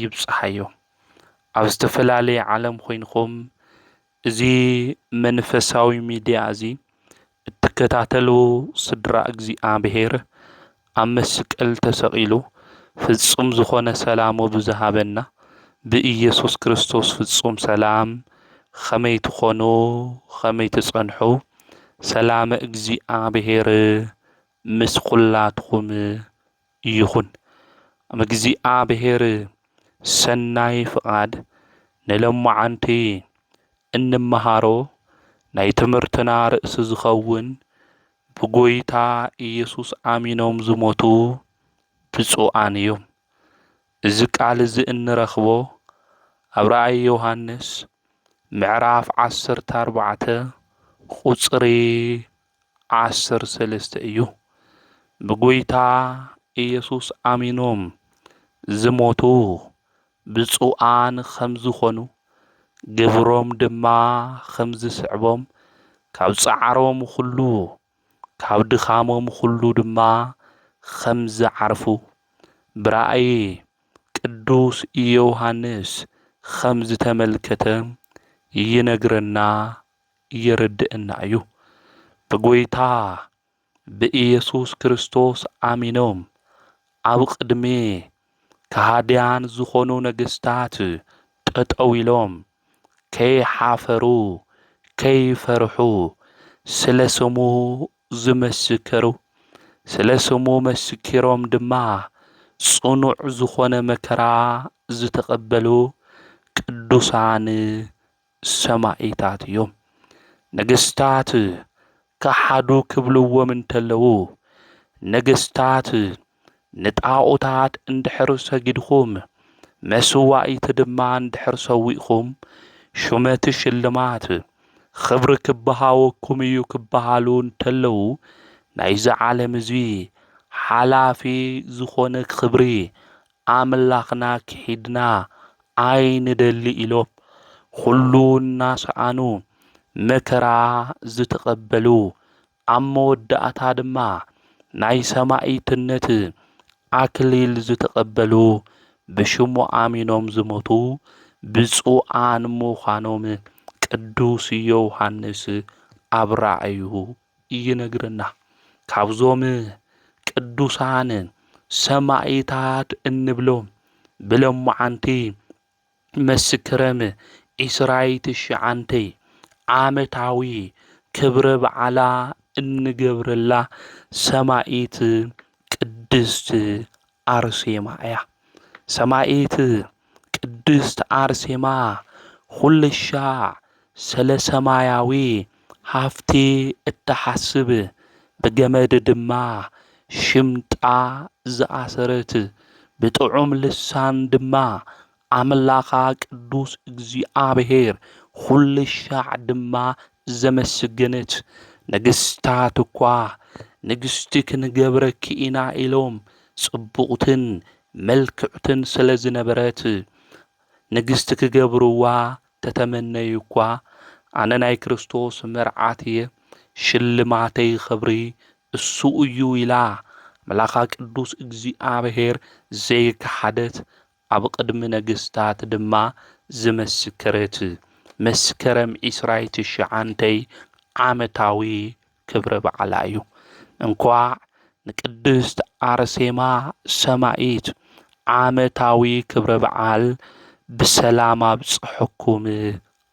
ይብጽሓዮ ኣብ ዝተፈላለየ ዓለም ኮይንኩም እዚ መንፈሳዊ ሚድያ እዚ እትከታተሉ ስድራ እግዚኣብሔር ኣብ መስቀል ተሰቂሉ ፍጹም ዝኾነ ሰላሙ ብዝሃበና ብኢየሱስ ክርስቶስ ፍጹም ሰላም ኸመይ ትኾኑ ኸመይ ትጸንሑ ሰላመ እግዚኣብሔር ምስ ኹላትኩም ይኹን ኣመግዚኣብሄር ሰናይ ፍቃድ ንሎማዓንቲ እንመሃሮ ናይ ትምህርትና ርእሲ ዝኸውን ብጎይታ ኢየሱስ ኣሚኖም ዝሞቱ ብጹኣን እዮም እዚ ቃል እዚ እንረኽቦ ኣብ ራእይ ዮሐንስ ምዕራፍ ዓሰርተ ኣርባዕተ ቁጽሪ ዓሰርተ ሰለስተ እዩ። ብጐይታ ኢየሱስ ኣሚኖም ዝሞቱ ብፁዓን ኸም ዝኾኑ ግብሮም ድማ ኸም ዝስዕቦም ካብ ጻዕሮም ዅሉ ካብ ድኻሞም ዅሉ ድማ ኸም ዝዓርፉ ብራእይ ቅዱስ ዮሐንስ ኸም ዝተመልከተ ይነግረና የረድእና እዩ። ብጐይታ ብኢየሱስ ክርስቶስ ኣሚኖም ኣብ ቕድሚ ከሃድያን ዝኾኑ ነገስታት ጠጠው ኢሎም ከይሓፈሩ ከይፈርሑ ስለ ስሙ ዝመሰከሩ ስለ ስሙ መስኪሮም ድማ ጽኑዕ ዝኾነ መከራ ዝተቐበሉ ቅዱሳን ሰማኢታት እዮም። ነገስታት ከሓዱ ክብልዎም እንተለዉ ነገስታት ንጣኦታት እንድሕር ሰጊድኩም መስዋኢቲ ድማ እንድሕር ሰዊእኹም ሹመት ሽልማት ኽብሪ ክበሃወኩም እዩ ክበሃሉ እንተለዉ ናይዚ ዓለም እዚ ሓላፊ ዝኾነ ኽብሪ ኣምላኽና ክሒድና ኣይንደሊ ኢሎም ኹሉ እናሰኣኑ መከራ ዝተቐበሉ ኣብ መወዳእታ ድማ ናይ ሰማኢትነት ኣክሊል ዝተቐበሉ ብሽሙ ኣሚኖም ዝሞቱ ብፁዓን ምዃኖም ቅዱስ ዮውሃንስ ኣብ ራእዩ ይነግረና ካብዞም ቅዱሳን ሰማኢታት እንብሎም ብሎማዓንቲ መስክረም ዒስራይ ትሽዓንተይ ዓመታዊ ክብረ በዓላ እንገብረላ ሰማኢት ቅድስት ኣርሴማ እያ። ሰማኢት ቅድስት ኣርሴማ ኹልሻዕ ሰለ ሰማያዊ ሃፍቲ እትሓስብ ብገመድ ድማ ሽምጣ ዝኣሰረት ብጥዑም ልሳን ድማ ኣምላኻ ቅዱስ እግዚኣብሔር ዅልሻዕ ድማ ዘመስግንት ነገስታት እኳ ንግስቲ ኽንገብረኪ ኢና ኢሎም ጽቡቕትን ምልክዕትን ስለ ዝነበረት ንግስቲ ክገብርዋ ተተመነዩ እኳ ኣነ ናይ ክርስቶስ መርዓት እየ ሽልማተይ ኽብሪ እሱ እዩ ኢላ ኣምላኻ ቅዱስ እግዚኣብሔር ዘይከሓደት ኣብ ቕድሚ ነገስታት ድማ ዝመስከረት መስከረም ዕስራይ ትሽዓንተይ ዓመታዊ ክብረ በዓላ እዩ። እንኳዕ ንቅድስት ኣርሴማ ሰማኢት ዓመታዊ ክብረ በዓል ብሰላም ኣብፀሐኩም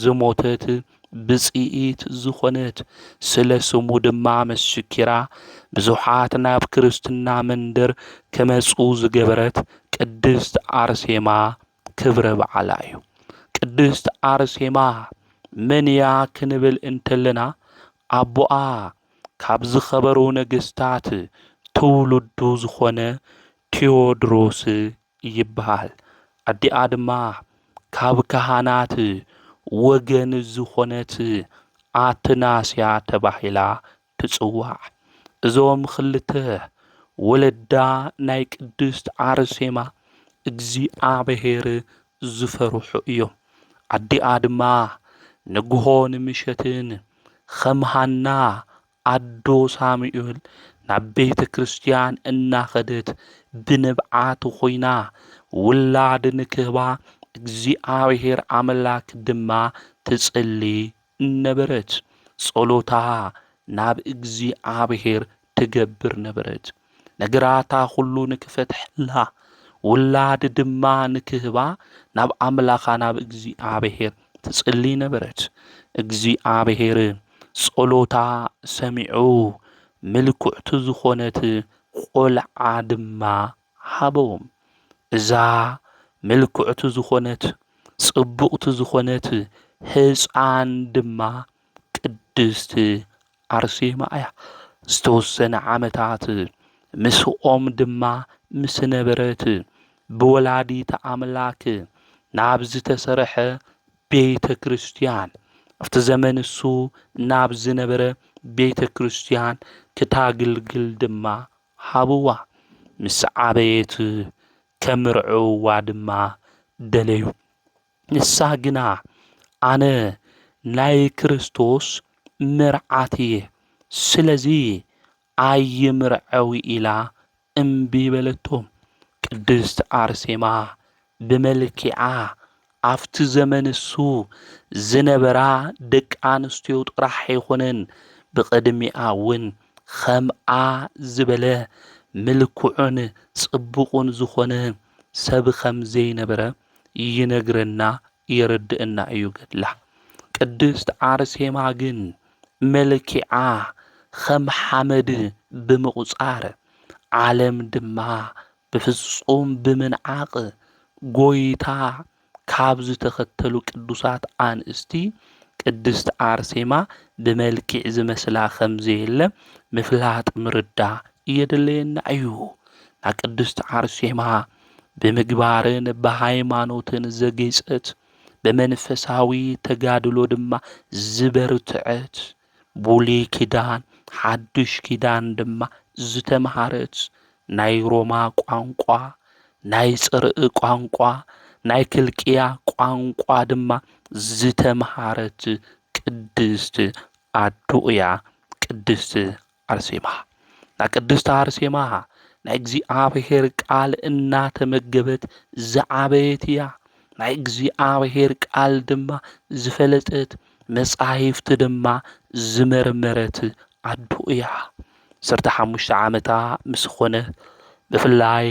ዝሞተት ብፅኢት ዝኾነት ስለ ስሙ ድማ መስኪራ ብዙሓት ናብ ክርስትና መንደር ክመፁ ዝገበረት ቅድስት ኣርሴማ ክብረ በዓላ እዩ። ቅድስት ኣርሴማ መን እያ ክንብል እንተለና ኣቦኣ ካብ ዝኸበሩ ነገስታት ትውልዱ ዝኾነ ቴዎድሮስ ይብሃል። ኣዲኣ ድማ ካብ ካህናት ወገን ዝኾነት ኣትናስያ ተባሂላ ትጽዋዕ። እዞም ክልተ ወለዳ ናይ ቅድስት ኣርሴማ እግዚኣብሔር ዝፈርሑ እዮም። ኣዲኣ ድማ ንግሆን ምሸትን ኸም ሃና ኣዶ ሳሙኤል ናብ ቤተ ክርስትያን እናኸደት ብንብዓት ኹይና ውላድ ንክህባ እግዚኣብሔር ኣምላክ ድማ ትጽሊ ነበረት። ጸሎታ ናብ እግዚኣብሔር ትገብር ነበረት። ነገራታ ኹሉ ንክፈትሐላ ውላድ ድማ ንክህባ ናብ ኣምላኻ ናብ እግዚኣብሔር ትጽሊ ነበረት። እግዚኣብሔር ጸሎታ ሰሚዑ ምልኩዕቲ ዝኾነት ቆልዓ ድማ ሃቦም። እዛ ምልኩዕቲ ዝኾነት ጽቡቕቲ ዝኾነት ህጻን ድማ ቅድስቲ ኣርሴማ እያ። ዝተወሰነ ዓመታት ምስኦም ድማ ምስ ነበረት ብወላዲተ ኣምላክ ናብ ዝተሰርሐ ቤተ ክርስትያን ኣብቲ ዘመን እሱ ናብ ዝነበረ ቤተ ክርስትያን ክታግልግል ድማ ሃብዋ ምስ ዓበየት ከምርዕውዋ ድማ ደለዩ። ንሳ ግና ኣነ ናይ ክርስቶስ መርዓት እየ፣ ስለዚ ኣይምርዐዊ ኢላ እምቢ በለቶ። ቅድስት ኣርሴማ ብመልኪዓ ኣብቲ ዘመን እሱ ዝነበራ ደቂ ኣንስትዮ ጥራሕ ኣይኮነን ብቕድሚኣ እውን ኸምኣ ዝበለ ምልኩዑን ጽቡቑን ዝኾነ ሰብ ኸም ዘይነበረ ይነግረና የረድእና እዩ ገድላ። ቅድስት ኣርሴማ ግን መልኪዓ ኸም ሓመድ ብምቝጻር ዓለም ድማ ብፍጹም ብምንዓቕ ጐይታ ካብ ዝተኸተሉ ቅዱሳት ኣንስቲ ቅድስት ኣርሴማ ብመልኪዕ ዝመስላ ኸም ዘየለ ምፍላጥ ምርዳ የድልየና እዩ። ናቅድስት ዓርሴማ ብምግባርን ብሃይማኖትን ዘጌጸት ብመንፈሳዊ ተጋድሎ ድማ ዝበርትዐት ቡሉይ ኪዳን ሓዱሽ ኪዳን ድማ ዝተምሃረት ናይ ሮማ ቋንቋ ናይ ጽርእ ቋንቋ ናይ ክልቅያ ቋንቋ ድማ ዝተምሃረት ቅድስት ኣዶ እያ ቅድስት ኣርሴማ ናይ ቅድስቲ ኣርሴማ ናይ እግዚኣብሔር ቃል እናተመገበት ዝዓበየት እያ። ናይ እግዚኣብሔር ቃል ድማ ዝፈለጠት መጻሕፍቲ ድማ ዝመርመረት ኣዶ እያ። ዓሰርተ ሓሙሽተ ዓመታ ምስ ኾነ ብፍላይ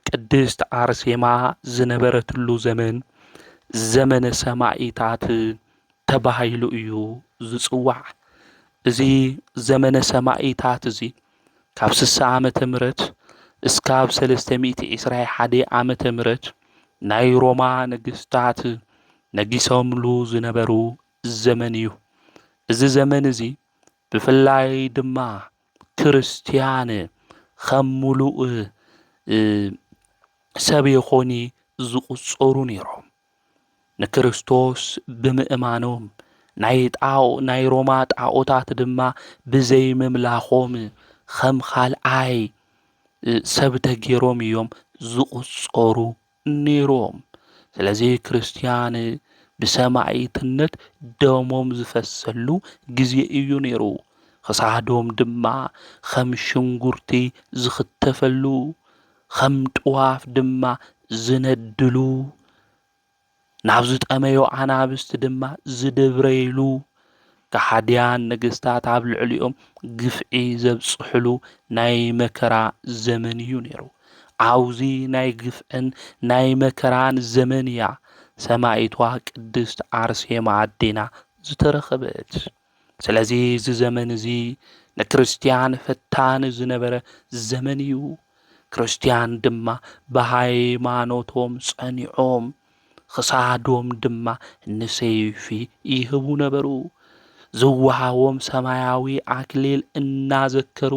ቅድስት ኣርሴማ ዝነበረትሉ ዘመን ዘመነ ሰማኢታት ተባሂሉ እዩ ዝጽዋዕ። እዚ ዘመነ ሰማኢታት እዚ ካብ ስሳ ዓመተ ምህረት እስካብ ሰለስተ ሚእቲ ዒስራይ ሓደይ ዓመተ ምህረት ናይ ሮማ ነገስታት ነጊሶምሉ ዝነበሩ ዘመን እዩ። እዚ ዘመን እዚ ብፍላይ ድማ ክርስትያን ኸም ምሉእ ሰብ ኾኒ ዝቑጸሩ ነይሮም። ንክርስቶስ ብምእማኖም ናይ ጣኦ ናይ ሮማ ጣኦታት ድማ ብዘይ ምምላኾም ኸም ኻልኣይ ሰብ ተገይሮም እዮም ዝቑፀሩ ነይሮም። ስለዚ ክርስትያን ብሰማዒትነት ደሞም ዝፈሰሉ ግዜ እዩ ነይሩ። ኽሳዶም ድማ ኸም ሽንጉርቲ ዝኽተፈሉ ኸም ጥዋፍ ድማ ዝነድሉ፣ ናብ ዝጠመዩ ኣናብስቲ ድማ ዝድብረይሉ፣ ከሓድያን ነገስታት ኣብ ልዕሊኦም ግፍዒ ዘብጽሕሉ ናይ መከራ ዘመን እዩ ነይሩ። ኣብዙ ናይ ግፍዕን ናይ መከራን ዘመን እያ ሰማኢቷ ቅድስት ኣርሴማ ኣዴና ዝተረኸበት። ስለዚ እዚ ዘመን እዚ ንክርስትያን ፈታኒ ዝነበረ ዘመን እዩ። ክርስትያን ድማ ብሃይማኖቶም ጸኒዖም ኽሳዶም ድማ ንሰይፊ ይህቡ ነበሩ። ዝወሃቦም ሰማያዊ ኣክሊል እናዘከሩ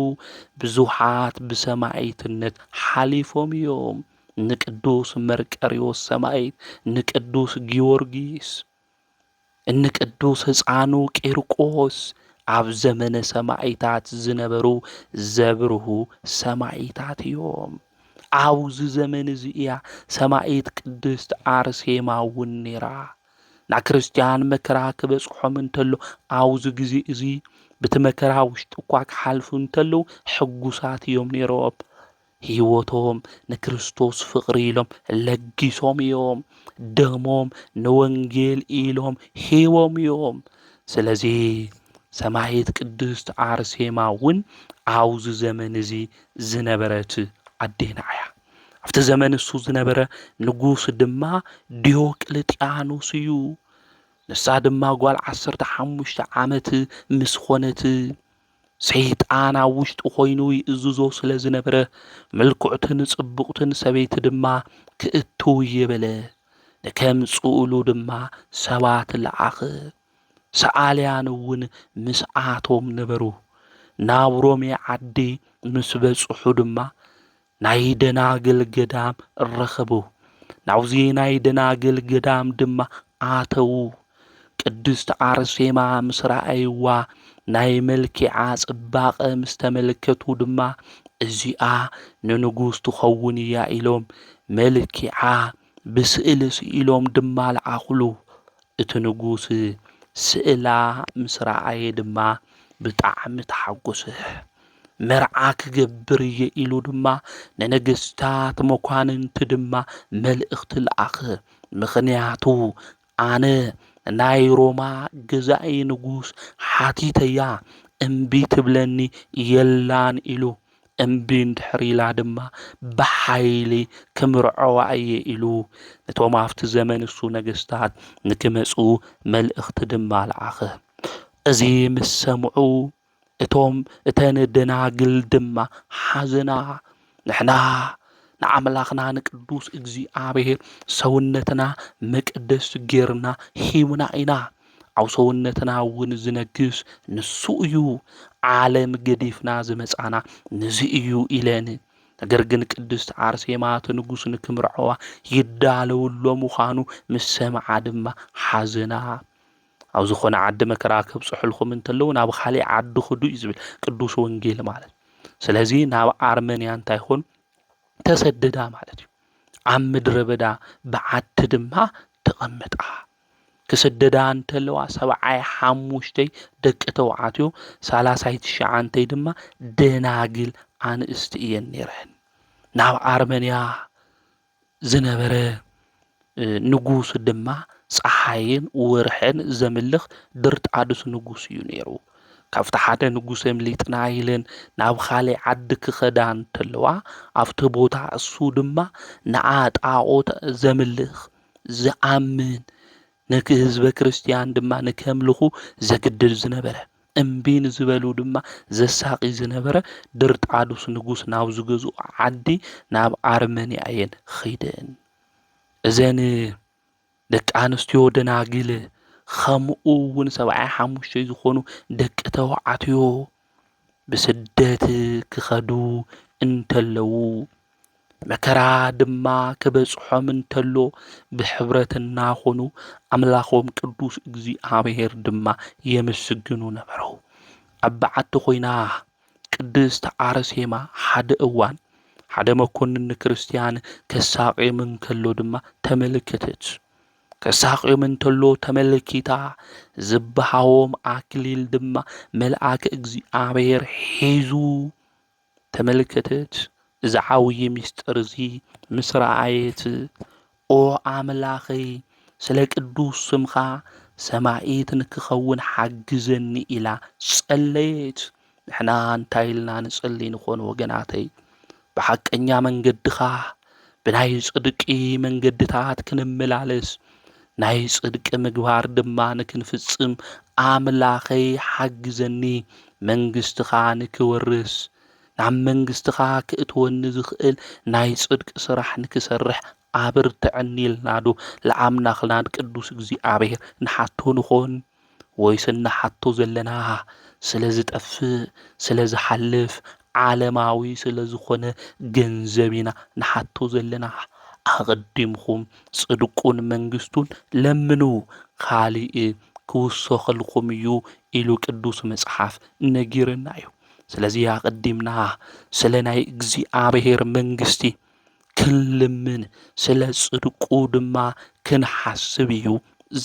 ብዙሓት ብሰማይትነት ሓሊፎም እዮም። ንቅዱስ መርቀሪዎስ ሰማይት፣ ንቅዱስ ጊዮርጊስ። እኒ ቅዱስ ህፃኑ ቂርቆስ ኣብ ዘመነ ሰማኢታት ዝነበሩ ዘብርሁ ሰማኢታት እዮም። ኣብዚ ዘመን እዚ እያ ሰማኢት ቅድስት ኣርሴማ እውን ነይራ። ንክርስትያን መከራ ክበጽሖም እንተሎ ኣብዚ ግዜ እዚ ብቲ መከራ ውሽጢ እኳ ክሓልፉ እንተለዉ ሕጉሳት እዮም ነይሮም። ህይወቶም ንክርስቶስ ፍቕሪ ኢሎም ለጊሶም እዮም። ደሞም ንወንጌል ኢሎም ሂቦም እዮም። ስለዚ ሰማይት ቅድስት ኣርሴማ እውን ኣብዚ ዘመን እዚ ዝነበረት ኣዴና እያ። ኣብቲ ዘመን እሱ ዝነበረ ንጉስ ድማ ዲዮቅልጥያኖስ እዩ። ንሳ ድማ ጓል ዓሰርተ ሓሙሽተ ዓመት ምስ ኾነት ሰይጣን ኣብ ውሽጡ ኮይኑ ይእዝዞ ስለ ዝነበረ ምልኩዕትን ጽቡቕትን ሰበይቲ ድማ ክእቱ ይብል። ንከምጽኡሉ ድማ ሰባት ለኣኽ። ሰኣልያን እውን ምስኣቶም ነበሩ። ናብ ሮሜ ዓዲ ምስ በጽሑ ድማ ናይ ደናግል ገዳም ረኸቡ። ናብዚ ናይ ደናግል ገዳም ድማ ኣተዉ። ቅድስት ኣርሴማ ምስ ረኣይዋ ናይ መልኪዓ ጽባቐ ምስ ተመልከቱ ድማ እዚኣ ንንጉስ ትኸውን እያ ኢሎም መልኪዓ ብስእሊ ስኢሎም ድማ ለኣኹሉ። እቲ ንጉስ ስእላ ምስ ረኣየ ድማ ብጣዕሚ ተሓጎሰ። መርዓ ክገብር እየ ኢሉ ድማ ንነገስታት መኳንንቲ ድማ መልእኽቲ ለኣኸ። ምኽንያቱ ኣነ ናይ ሮማ ገዛኢ ንጉስ ሓቲተያ እምቢ ትብለኒ የላን ኢሉ። እምቢ እንድሕር ኢላ ድማ ብሓይሊ ክምርዐዋ እየ ኢሉ። ነቶም ኣብቲ ዘመን እሱ ነገስታት ንክመጹ መልእኽቲ ድማ ለኣኸ። እዚ ምስ ሰምዑ እቶም እተን ደናግል ድማ ሓዘና፣ ንሕና ንኣምላኽና ንቅዱስ እግዚኣብሔር ሰውነትና መቅደስ ጌርና ሂብና ኢና፣ ኣብ ሰውነትና እውን ዝነግስ ንሱ እዩ፣ ዓለም ገዲፍና ዝመጻና ንዚ እዩ ኢለን ነገር ግን ቅድስት ኣርሴማ እቲ ንጉስ ንክምርዐዋ ይዳለውሎ ምዃኑ ምስ ሰምዓ ድማ ሓዘና። ኣብ ዝኾነ ዓዲ መከራ ከብፅሑልኩም እንተለዉ ናብ ኻሊእ ዓዲ ኹዱ እዩ ዝብል ቅዱስ ወንጌል ማለት ስለዚ ናብ ኣርመንያ እንታይ ኹን ተሰደዳ ማለት እዩ ኣብ ምድረ በዳ ብዓቲ ድማ ተቐመጣ ክስደዳ እንተለዋ ሰብዓይ ሓሙሽተይ ደቂ ተውዓትዮ ሳላሳይ ትሽዓንተይ ድማ ደናግል ኣንእስቲ እየን ነይረን ናብ ኣርመንያ ዝነበረ ንጉስ ድማ ጸሓይን ወርሕን ዘምልኽ ድርጣድስ ንጉስ እዩ ነይሩ። ካብቲ ሓደ ንጉስ ኣምሊጥና ኢለን ናብ ካልእ ዓዲ ክኸዳ እንተለዋ ኣብቲ ቦታ እሱ ድማ ንዓ ጣዖት ዘምልኽ ዝኣምን ነቲ ህዝበ ክርስትያን ድማ ንከምልኹ ዘግድድ ዝነበረ እምቢ ንዝበሉ ድማ ዘሳቒ ዝነበረ ድርጣዱስ ንጉስ ናብ ዝገዝኦ ዓዲ ናብ ኣርመንያ እየን ኺደን። እዘን ደቂ ኣንስትዮ ደናግል ኸምኡ እውን ሰብዓይ ሓሙሽተይ ዝኾኑ ደቂ ተባዕትዮ ብስደት ክኸዱ እንተለዉ መከራ ድማ ክበጽሖም እንተሎ ብሕብረት እናኾኑ ኣምላኾም ቅዱስ እግዚኣብሔር ድማ የመስግኑ ነበሩ። ኣብ በዓቲ ኮይና ቅድስት ኣርሴማ ሓደ እዋን ሓደ መኮንን ንክርስትያን ከሳቅዮም እንከሎ ድማ ተመልከተት። ከሳቅዮም እንተሎ ተመልኪታ ዝበሃዎም ኣክሊል ድማ መልኣክ እግዚኣብሔር ሒዙ ተመልከተት፣ እዚ ዓብዪ ምስጢር እዚ ምስ ረኣየት፣ ኦ ኣምላኸይ፣ ስለ ቅዱስ ስምካ ሰማዒት ንክኸውን ሓግዘኒ ኢላ ጸለየት። ንሕና እንታይ ኢልና ንጽሊ ንኾን ወገናተይ? ብሓቀኛ መንገድኻ ብናይ ጽድቂ መንገድታት ክንመላለስ ናይ ጽድቂ ምግባር ድማ ንክንፍጽም ኣምላኸይ ሓግዘኒ መንግስትኻ ንክወርስ ናብ መንግስትኻ ክእትወኒ ዝኽእል ናይ ጽድቂ ስራሕ ንክሰርሕ ኣብርትዐኒ ኢልናዶ ለኣምላኽናን ቅዱስ እግዚኣብሔር ንሓቶ ንኾን? ወይስ እንሓቶ ዘለና ስለ ዝጠፍእ፣ ስለ ዝሓልፍ፣ ዓለማዊ ስለ ዝኾነ ገንዘብ ኢና ንሓቶ ዘለና? ኣቐዲምኩም ጽድቁን መንግስቱን ለምኑ፣ ካልእ ክውሰኸልኩም እዩ ኢሉ ቅዱስ መጽሓፍ ነጊርና እዩ። ስለዚ ኣቐዲምና ስለ ናይ እግዚኣብሔር መንግስቲ ክንልምን ስለ ጽድቁ ድማ ክንሓስብ እዩ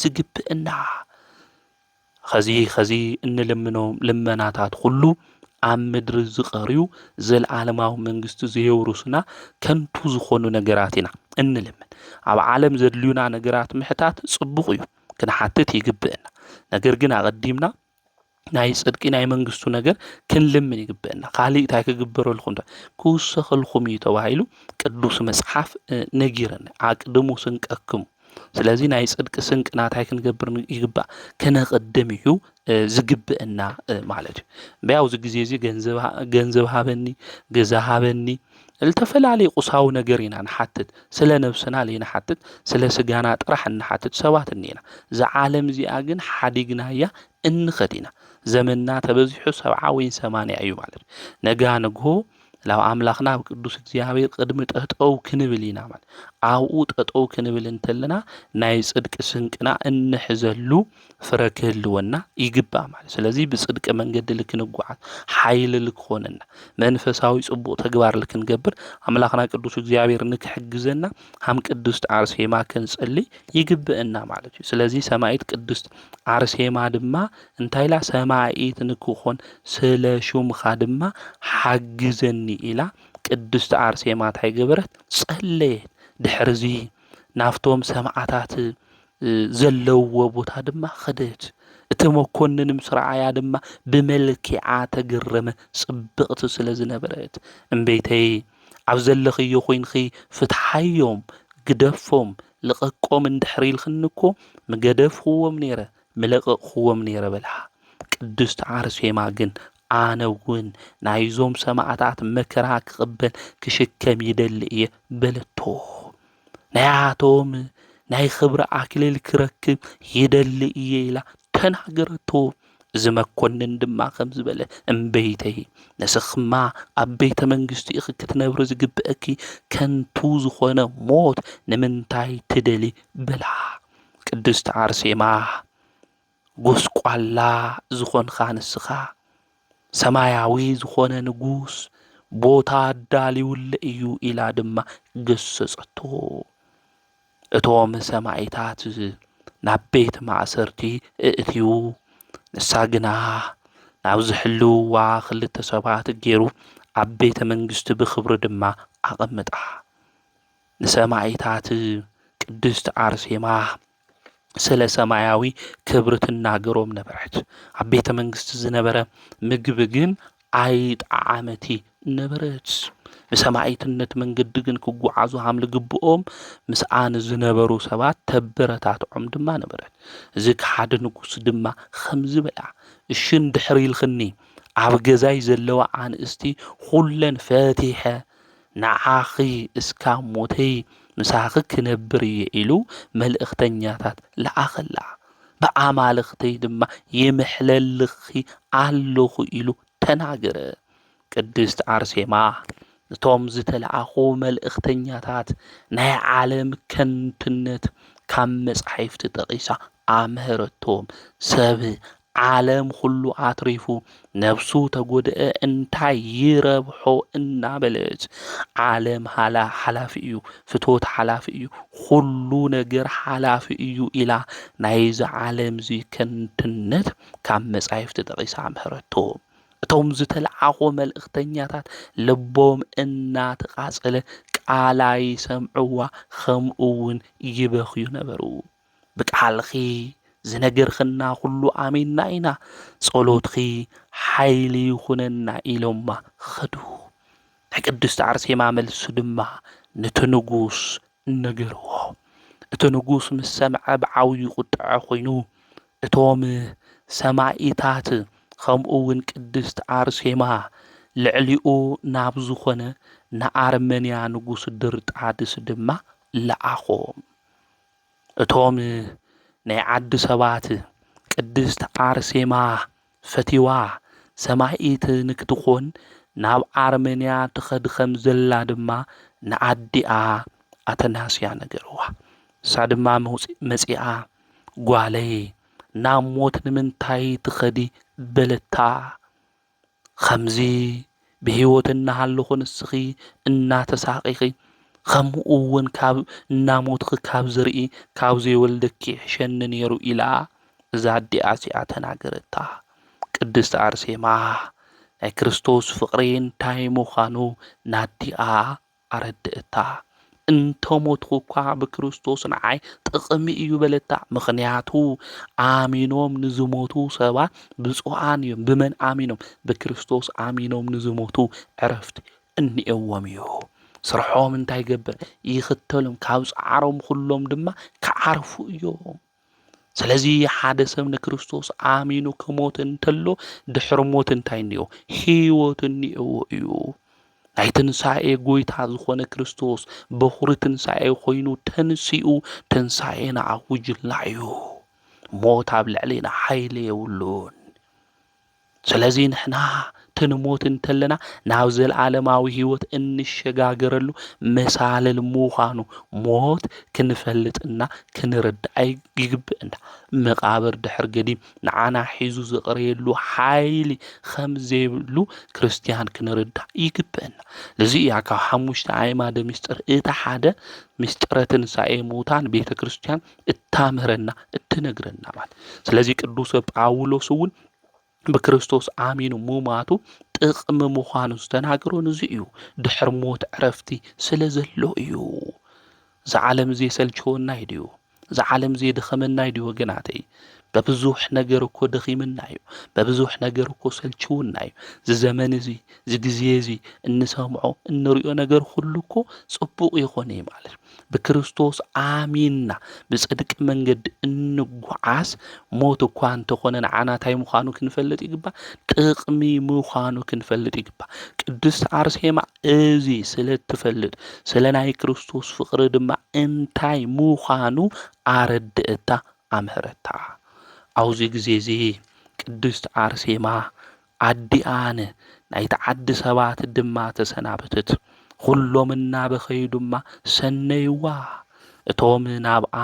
ዝግብእና። ኸዚ ኸዚ እንልምኖም ልመናታት ኹሉ ኣብ ምድሪ ዝቐርዩ ዘለዓለማዊ መንግስቲ ዘየውርሱና ከንቱ ዝኾኑ ነገራት ኢና እንልምን። ኣብ ዓለም ዘድልዩና ነገራት ምሕታት ጽቡቕ እዩ፣ ክንሓትት ይግብእና። ነገር ግን ኣቐዲምና ናይ ጽድቂ ናይ መንግስቱ ነገር ክንልምን ይግበአና ካልእ እንታይ ክግበረልኩም ዶ ክውሰኸልኩም እዩ ተባሂሉ ቅዱስ መጽሓፍ ነጊረና ኣቅድሙ ስንቀክሙ ስለዚ ናይ ጽድቂ ስንቂ ናታይ ክንገብር ይግባእ ከነቅድም እዩ ዝግብአና ማለት እዩ በያውዚ ግዜ እዚ ገንዘብ ሃበኒ ገዛ ሃበኒ እልተፈላለየ ቁሳዊ ነገር ኢና ንሓትት ስለ ነብስና ለይንሓትት ስለ ስጋና ጥራሕ እንሓትት ሰባት እኒኤና እዛ ዓለም እዚኣ ግን ሓዲግናያ እንኸድ ኢና ዘመንና ተበዚሑ ሰብዓ ወይን ሰማንያ እዩ ማለት ነጋ ንግሆ ላብ ኣምላኽና ኣብ ቅዱስ እግዚኣብሔር ቅድሚ ጠጠው ክንብል ኢና ማለት ኣብኡ ጠጠው ክንብል እንተለና ናይ ጽድቂ ስንቅና እንሕዘሉ ፍረ ክህልወና ይግባእ ማለት እዩ። ስለዚ ብፅድቂ መንገዲ ልክንጓዓዝ ሓይሊ ልክኾነና መንፈሳዊ ፅቡቕ ተግባር ልክንገብር ኣምላኽና ቅዱስ እግዚኣብሔር ንክሕግዘና ሃም ቅዱስት ኣርሴማ ክንጽልይ ይግብእና ማለት እዩ። ስለዚ ሰማይት ቅዱስት ኣርሴማ ድማ እንታይ ኢላ ሰማይት ንክኾን ስለ ሹምኻ ድማ ሓግዘኒ ኢላ ቅዱስት ኣርሴማ እንታይ ገበረት ጸለየት። ድሕርዚ ናፍቶም ሰማዕታት ዘለውዎ ቦታ ድማ ኸደት። እቲ መኮንን ምስ ረኣያ ድማ ብመልኪዓ ተገረመ፣ ጽብቕቲ ስለ ዝነበረት። እምበይተይ! ኣብ ዘለኽዮ ኮይንኪ ፍትሓዮም፣ ግደፎም፣ ልቐቆም እንድሕሪ ኢልክኒ እኮ ምገደፍክዎም ነይረ፣ ምለቐቕክዎም ነይረ በላ። ቅድስት ኣርሴማ ግን ኣነ እውን ናይዞም ሰማእታት መከራ ክቕበል ክሽከም ይደሊ እየ በለቶ። ናያቶም ናይ ኽብሪ ኣክሊል ክረክብ ይደሊ እየ ኢላ ተናገረቶ። እዚ መኮንን ድማ ከም ዝበለ እምበይተይ ንስኽማ ኣብ ቤተ መንግስቲ ኢኺ ክትነብሪ ዝግብአኪ ከንቱ ዝኾነ ሞት ንምንታይ ትደሊ በላ። ቅድስቲ ኣርሴማ ጐስቋላ ዝዀንካ ንስኻ፣ ሰማያዊ ዝዀነ ንጉስ ቦታ ኣዳልዩለይ እዩ ኢላ ድማ ገሰጸቶ። እቶም ሰማይታት ናብ ቤት ማእሰርቲ እእትዩ፣ ንሳ ግና ናብ ዝሕልውዋ ክልተ ሰባት ገይሩ ኣብ ቤተ መንግስቲ ብኽብሪ ድማ ኣቐምጣ። ንሰማይታት ቅድስት ኣርሴማ ስለ ሰማያዊ ክብሪ ትናገሮም ነበረት። ኣብ ቤተ መንግስቲ ዝነበረ ምግቢ ግን ኣይጠዓመቲ ነበረት። ንሰማዒትነት መንገዲ ግን ክጓዓዙ ሃም ልግብኦም ምስኣ ንዝነበሩ ሰባት ተበረታትዖም ድማ ነበረት። እዚ ከሓዲ ንጉስ ድማ ከምዚ በላ እሺ እንድሕር ኢልክኒ ኣብ ገዛይ ዘለዋ ኣንእስቲ ኹለን ፈቲሐ ንዓኺ እስካብ ሞተይ ምሳኺ ክነብር እየ ኢሉ መልእኽተኛታት ለኣኸላ፣ ብኣማልኽተይ ድማ ይምሕለልኺ ኣለኹ ኢሉ ተናገረ። ቅድስት ኣርሴማ እቶም ዝተለኣኹ መልእኽተኛታት ናይ ዓለም ከንቱነት ካብ መጻሕፍቲ ጠቒሳ ኣምሀረቶም። ሰብ ዓለም ኹሉ ኣትሪፉ ነብሱ ተጎደኣ እንታይ ይረብሖ እናበለት ዓለም ሓላፊ እዩ ፍትወት ሓላፊ እዩ ኹሉ ነገር ሓላፊ እዩ ኢላ ናይዚ ዓለምዚ ከንትነት ካብ መጻይፍቲ ጠቒሳ ምህረቶ እቶም ዝተለዓኾ መልእኽተኛታት ልቦም እናተቓጸለ ቃላ ይሰምዕዋ ኸምኡውን ይበኽዩ ነበሩ። ብቃልኺ ዝነገርክና ኩሉ ኣሚንና ኢና ጸሎትኺ ሓይሊ ይኹነና ኢሎማ ኸዱ። ናይ ቅድስቲ ኣርሴማ መልሲ ድማ ነቲ ንጉስ ነገርዎ። እቲ ንጉስ ምስ ሰምዐ ብዓብዩ ቁጥዐ ኮይኑ እቶም ሰማኢታት ከምኡ እውን ቅድስት ኣርሴማ ልዕሊኡ ናብ ዝኾነ ንኣርመንያ ንጉስ ድርጣድስ ድማ ለኣኾም። እቶም ናይ ዓዱ ሰባት ቅድስት ኣርሴማ ፈትይዋ ሰማኢት ንክትኮን ናብ ኣርመንያ ትኸድ ከም ዘላ ድማ ንኣዲኣ ኣተናስያ ነገርዋ። ንሳ ድማ መጺኣ ጓለይ ናብ ሞት ንምንታይ ትኸዲ በለታ። ኸምዚ ብህይወት እናሃለኹ ንስኺ እናተሳቐኺ ኸምኡ እውን ካብ እናሞትኺ ካብ ዝርኢ ካብ ዘይወልደኪ ይሕሸኒ ነይሩ ኢላ እዛ ኣዲኣ እዚኣ ተናገረታ። ቅድስት ኣርሴማ ናይ ክርስቶስ ፍቕሪ እንታይ ምዃኑ ናዲኣ ኣረድእታ። እንተሞትኹኳ ብክርስቶስ ንዓይ ጥቕሚ እዩ በለታ። ምኽንያቱ ኣሚኖም ንዝሞቱ ሰባት ብፁዓን እዮም። ብመን ኣሚኖም? ብክርስቶስ ኣሚኖም ንዝሞቱ ዕረፍቲ እኒኤዎም እዩ። ስርሖም እንታይ ይገብር? ይኽተሎም፣ ካብ ጻዕሮም ኹሎም ድማ ክዓርፉ እዮም። ስለዚ ሓደ ሰብ ንክርስቶስ ኣሚኑ ክሞት እንተሎ ድሕሪ ሞት እንታይ እኒኦ? ህይወት እኒኦዎ እዩ። ናይ ትንሣኤ ጎይታ ዝኾነ ክርስቶስ በኹሪ ትንሣኤ ኮይኑ ተንሲኡ ትንሣኤና ኣውጅልና እዩ። ሞት ኣብ ልዕሌና ሓይሊ የብሉን። ስለዚ ንሕና ክንሞት እንተለና ናብ ዘለዓለማዊ ህይወት እንሸጋገረሉ መሳልል ምዃኑ ሞት ክንፈልጥና ክንርዳእ ይግብእና። መቓብር ድሕር ገዲም ንዓና ሒዙ ዝቕረየሉ ሓይሊ ኸም ዘይብሉ ክርስትያን ክንርዳእ ይግብእና። እዚ እያ ካብ ሓሙሽተ ኣዕማደ ምስጢር እቲ ሓደ ምስጢረ ትንሳኤ ምውታን ቤተ ክርስትያን እታምህረና እትነግረና ማለት ስለዚ ቅዱስ ጳውሎስ እውን ብክርስቶስ ኣሚኑ ሙማቱ ጥቕሚ ምዃኑ ዝተናገሮ ንዚ እዩ ድሕሪ ሞት ዕረፍቲ ስለ ዘሎ እዩ እዚ ዓለም እዚ የሰልችወና እዩ ድዩ እዚ ዓለም እዚ የድኸመና እዩ ድዩ ወገናተይ በብዙሕ ነገር እኮ ደኺምና እዩ በብዙሕ ነገር እኮ ሰልችውና እዩ እዚ ዘመን እዚ እዚ ግዜ እዚ እንሰምዖ እንሪኦ ነገር ኩሉ እኮ ፅቡቕ ይኾነ እዩ ማለት እዩ ብክርስቶስ ኣሚንና ብጽድቂ መንገዲ እንጓዓዝ ሞት እኳ እንተኾነ ንዓና እንታይ ምዃኑ ክንፈልጥ ይግባእ፣ ጥቕሚ ምዃኑ ክንፈልጥ ይግባእ። ቅድስቲ ኣርሴማ እዚ ስለ እትፈልጥ ስለ ናይ ክርስቶስ ፍቕሪ ድማ እንታይ ምዃኑ ኣረድእታ ኣምህረታ። ኣብዚ ግዜ እዚ ቅድስቲ ኣርሴማ ኣዲኣን ናይቲ ዓዲ ሰባት ድማ ተሰናበተት። ኹሎም እናበኸዩ ድማ ሰነይዋ። እቶም ናብኣ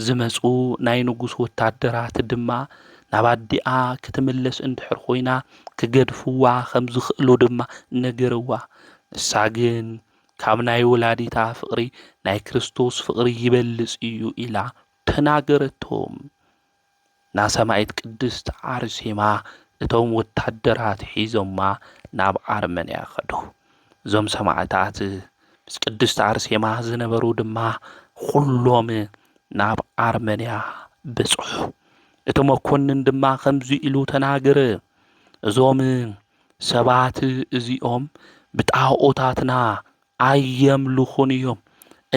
ዝመጹ ናይ ንጉስ ወታደራት ድማ ናብ ኣዲኣ ክትምለስ እንድሕር ኾይና ክገድፍዋ ከም ዝኽእሉ ድማ ነገርዋ። ንሳ ግን ካብ ናይ ወላዲታ ፍቕሪ ናይ ክርስቶስ ፍቕሪ ይበልጽ እዩ ኢላ ተናገረቶም። ናሰማኢት ቅድስት ኣርሴማ እቶም ወታደራት ሒዞማ ናብ ኣርመንያ ከዱ። እዞም ሰማእታት ምስ ቅድስት ኣርሴማ ዝነበሩ ድማ ዅሎም ናብ ኣርመንያ በጽሑ። እቲ መኮንን ድማ ከምዚ ኢሉ ተናገረ፣ እዞም ሰባት እዚኦም ብጣዖታትና ኣየምልኹን እዮም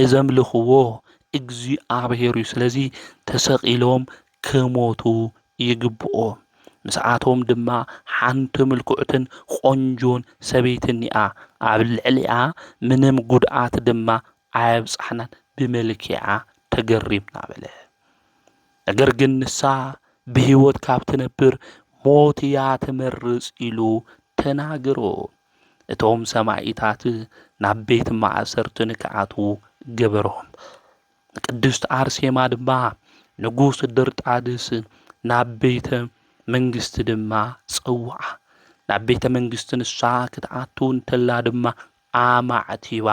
እዘምልኽዎ እግዚኣብሔር እዩ ስለዚ ተሰቒሎም ክሞቱ ይግብኦም ምስኣቶም ድማ ሓንቲ ምልኩዕትን ቆንጆን ሰበይቲ እኒኣ ኣብ ልዕሊኣ ምንም ጉድኣት ድማ ኣየብጻሕናን ብመልኪዓ ተገሪምና በለ ነገር ግን ንሳ ብህይወት ካብ ትነብር ሞት እያ ትመርጽ ኢሉ ተናግሮ እቶም ሰማኢታት ናብ ቤት ማእሰርቲ ንክኣትዉ ገበሮም። ንቅድስት ኣርሴማ ድማ ንጉስ ድርጣድስ ናብ ቤተ መንግስቲ ድማ ጸውዓ። ናብ ቤተ መንግስቲ ንሳ ክትኣቱ እንተላ ድማ ኣማዕቲባ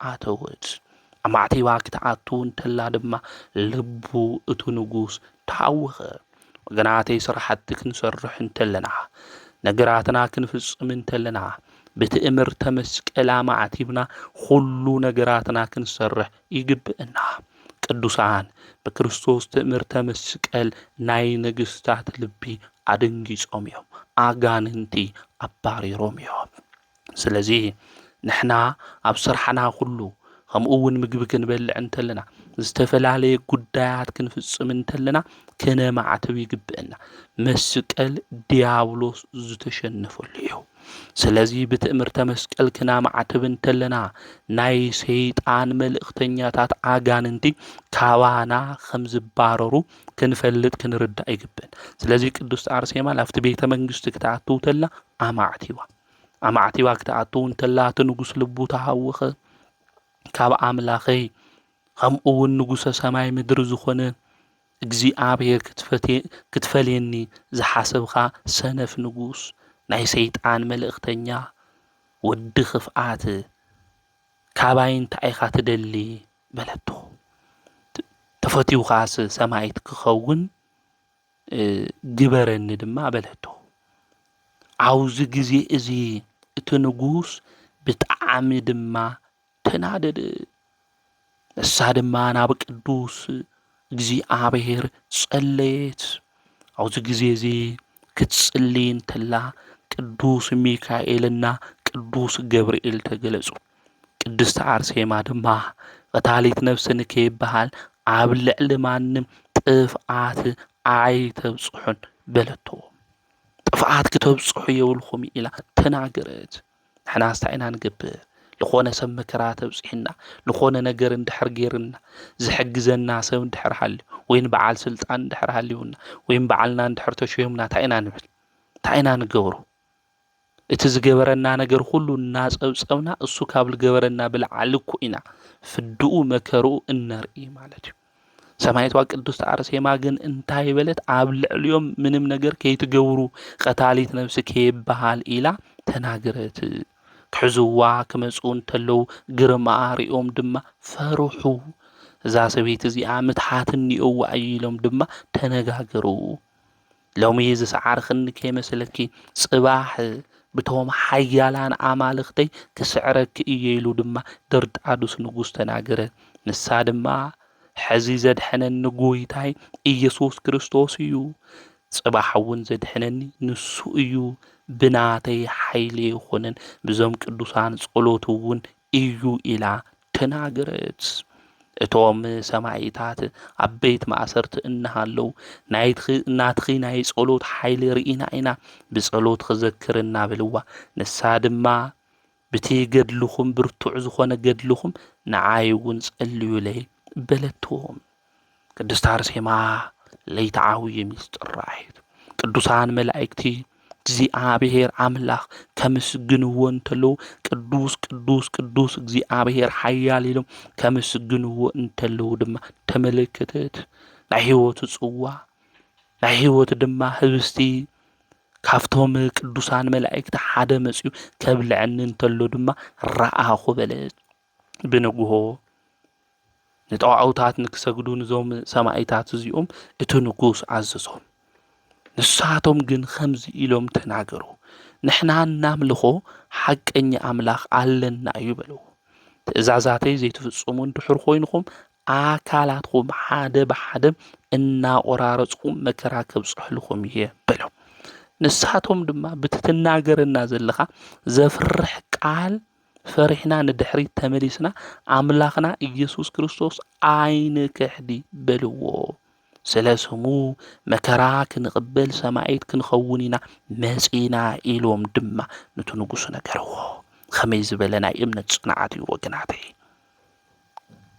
ኣተወት። ኣማዕቲባ ክትኣቱ እንተላ ድማ ልቡ እቱ ንጉስ ተሃወኸ። ወገናተይ ስራሕቲ ክንሰርሕ እንተለና ነገራትና ክንፍፅም እንተለና ብትእምርተ መስቀል ኣማዕቲብና ኩሉ ነገራትና ክንሰርሕ ይግብእና። ቅዱሳን ብክርስቶስ ትእምርተ መስቀል ናይ ነገስታት ልቢ ኣደንጊጾም እዮም፣ ኣጋንንቲ ኣባሪሮም እዮም። ስለዚ ንሕና ኣብ ስራሕና ኩሉ ከምኡ እውን ምግቢ ክንበልዕ እንተለና ዝተፈላለየ ጉዳያት ክንፍፅም እንተለና ከነማዕትብ ይግብእና። መስቀል ዲያብሎስ ዝተሸነፈሉ እዩ። ስለዚ ብትእምርተ መስቀል ክናማዕትብ እንተለና ናይ ሰይጣን መልእኽተኛታት ኣጋንንቲ ካባና ከም ዝባረሩ ክንፈልጥ ክንርዳእ ይግብእን። ስለዚ ቅድስቲ ኣርሴማ ኣብቲ ቤተ መንግስቲ ክትኣትው ተላ ኣማዕቲዋ። ኣማዕቲባ ክትኣቱ እንተላ እቲ ንጉስ ልቡ ተሃወኸ ካብ ኣምላኸይ ከምኡ እውን ንጉሰ ሰማይ ምድሪ ዝኾነ እግዚኣብሔር ክትፈልየኒ ዝሓሰብካ ሰነፍ ንጉስ ናይ ሰይጣን መልእኽተኛ ወዲ ክፍኣት ካባይ እንታይ ኢኻ ትደሊ በለቶ ተፈትውካስ ሰማይት ክኸውን ግበረኒ ድማ በለቶ። ኣብዚ ግዜ እዚ እቲ ንጉስ ብጣዕሚ ድማ ተናደደ። ንሳ ድማ ናብ ቅዱስ እግዚኣብሔር ጸለየት። ኣብዚ ግዜ እዚ ክትጽሊ እንተላ ቅዱስ ሚካኤልና ቅዱስ ገብርኤል ተገለጹ። ቅድስት ኣርሴማ ድማ ቐታሊት ነፍሲ ንከይበሃል ኣብ ልዕሊ ማንም ጥፍኣት ኣይተብጽሑን በለቶ። ጥፍኣት ክተብጽሑ የብልኹም ኢላ ተናገረት። ንሕና እንታይ ኢና ንገብር? ዝኾነ ሰብ መከራ ተብፅሕና ዝኾነ ነገር እንድሕር ገይርና ዝሕግዘና ሰብ እንድሕር ሃልዩ ወይም በዓል ስልጣን እንድሕር ሃልዩና ወይም በዓልና እንድሕር ተሸዮምና እንታይ ኢና ንብል እንታይ ኢና ንገብሮ እቲ ዝገበረና ነገር ዅሉ እናጸብጸብና፣ እሱ ካብ ልገበረና ብልዓሊ እኮ ኢና ፍድኡ መከርኡ እነርኢ ማለት እዩ። ሰማይቷ ቅድስት ኣርሴማ ግን እንታይ በለት? ኣብ ልዕሊኦም ምንም ነገር ከይትገብሩ ቐታሊት ነብሲ ከይበሃል ኢላ ተናግረት። ክሕዝዋ ክመጽኡ እንተለዉ ግርማኣ ርእዮም ድማ ፈርሑ። እዛ ሰበይቲ እዚኣ ምትሓት እኒኦዋ እዩ ኢሎም ድማ ተነጋገሩ። ሎሚ ዝሰዓርክኒ ከይመስለኪ፣ ጽባሕ ብቶም ሓያላን ኣማልኽተይ ክስዕረኪ እየ ኢሉ ድማ ድርጣዱስ ንጉስ ተናገረ። ንሳ ድማ ሕዚ ዘድሕነኒ ጎይታይ ኢየሱስ ክርስቶስ እዩ፣ ጽባሕ እውን ዘድሕነኒ ንሱ እዩ፣ ብናተይ ሓይሊ ኣይኮነን፣ ብዞም ቅዱሳን ጸሎት እውን እዩ ኢላ ተናገረት። እቶም ሰማኢታት ኣብ ቤት ማእሰርቲ እናሃለው ናይትኺ ናትኺ ናይ ጸሎት ሓይሊ ርኢና ኢና ብጸሎትኺ ዘክርና በልዋ። ንሳ ድማ ብቲ ገድልኹም ብርቱዕ ዝኾነ ገድልኹም ንዓይ እውን ጸልዩለይ በለቶም። ቅድስት ኣርሴማ ለይተዓውዪ ምስጢር ራእይት ቅዱሳን መላእክቲ እግዚኣብሔር ኣምላኽ ከምስግንዎ እንተለዉ ቅዱስ ቅዱስ ቅዱስ እግዚኣብሔር ሓያል ኢሎም ከምስግንዎ እንተለዉ ድማ ተመለከተት ናይ ህይወቱ ጽዋ ናይ ህይወቱ ድማ ህብስቲ ካብቶም ቅዱሳን መላእክቲ ሓደ መጽዩ ከብልዐኒ እንተሎ ድማ ረኣኹ በለት። ብንግሆ ንጠዋውታት ንክሰግዱ ንዞም ሰማኢታት እዚኦም እቲ ንጉስ ኣዘዞም ንሳቶም ግን ከምዚ ኢሎም ተናገሩ ንሕና እናምልኾ ሓቀኛ ኣምላኽ ኣለና እዩ በልዎ ትእዛዛተይ ዘይትፍጽሙ እንድሕር ኮይንኹም ኣካላትኩም ሓደ ብሓደ እናቆራረፅኩም መከራ ከብፅሕልኹም እየ በሎም ንሳቶም ድማ ብትትናገረና ዘለኻ ዘፍርሕ ቃል ፈሪሕና ንድሕሪት ተመሊስና ኣምላኽና ኢየሱስ ክርስቶስ ኣይንክሕዲ በልዎ። ስለ ስሙ መከራ ክንቕበል ሰማዒት ክንኸውን ኢና መጺና ኢሎም ድማ ነቲ ንጉሱ ነገርዎ። ከመይ ዝበለ ናይ እምነት ጽንዓት እዩ ወገናተይ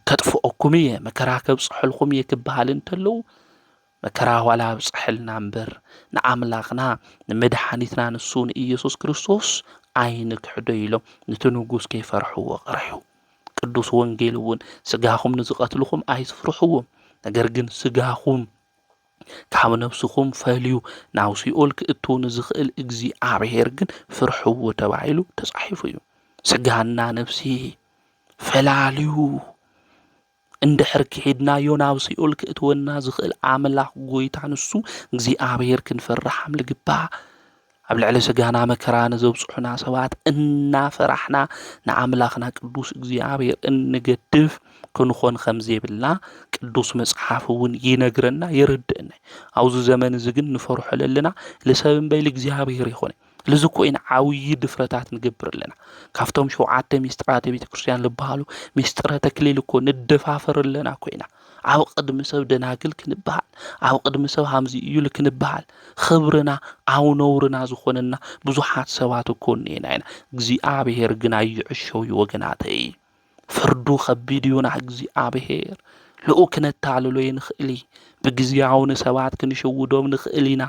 ከጥፍኦኩም እየ መከራ ከብፅሐልኩም እየ ክበሃል እንተለዉ መከራ ዋላ ኣብፀሐልና እምበር ንኣምላኽና ንመድሓኒትና ንሱ ንኢየሱስ ክርስቶስ ኣይንክሕዶ ኢሎም ንቲ ንጉስ ከይፈርሕዎ ቀርሑ። ቅዱስ ወንጌል እውን ስጋኹም ንዝቐትልኹም ኣይትፍርሕዎም ነገር ግን ስጋኹም ካብ ነብስኹም ፈልዩ ናብ ሲኦል ክእትው ንዝኽእል እግዚኣብሔር ግን ፍርሕዎ ተባሂሉ ተጻሒፉ እዩ። ስጋና ነብሲ ፈላልዩ እንድሕር ክሒድናዮ ናብ ሲኦል ክእትወና ዝኽእል ኣምላኽ ጎይታ ንሱ እግዚኣብሔር ክንፈርሕ ኣም ልግባእ። ኣብ ልዕሊ ስጋና መከራ ንዘብጽሑና ሰባት እናፈራሕና ንኣምላኽና ቅዱስ እግዚኣብሔር እንገድፍ ክንኾን ከም ዘይብልና ቅዱስ መጽሓፍ እውን ይነግረና የረድእና። ኣብዚ ዘመን እዚ ግን ንፈርሖ ለለና ልሰብ እምበይ ልእግዚኣብሔር ይኾነ። ልዚ ኮይና ዓብዪ ድፍረታት ንገብር ኣለና ካብቶም ሸውዓተ ሚስጥራተ ቤተ ክርስትያን ዝበሃሉ ሚስጥረ ተክሊል እኮ ንደፋፈር ኣለና ኮይና ኣብ ቅድሚ ሰብ ደናግል ክንበሃል ኣብ ቅድሚ ሰብ ሃምዚ እዩል ክንበሃል ኽብርና ኣብ ነውርና ዝኾነና ብዙሓት ሰባት እኮ እኒኤና ኢና እግዚኣብሔር ግን ኣይዕሸው ወገናተይ ፍርዱ ኸቢድ እዩ ናይ እግዚኣብሔር ልኡ ክነታልሎ ይንኽእል ብግዚያዊ ንሰባት ክንሽውዶም ንኽእል ኢና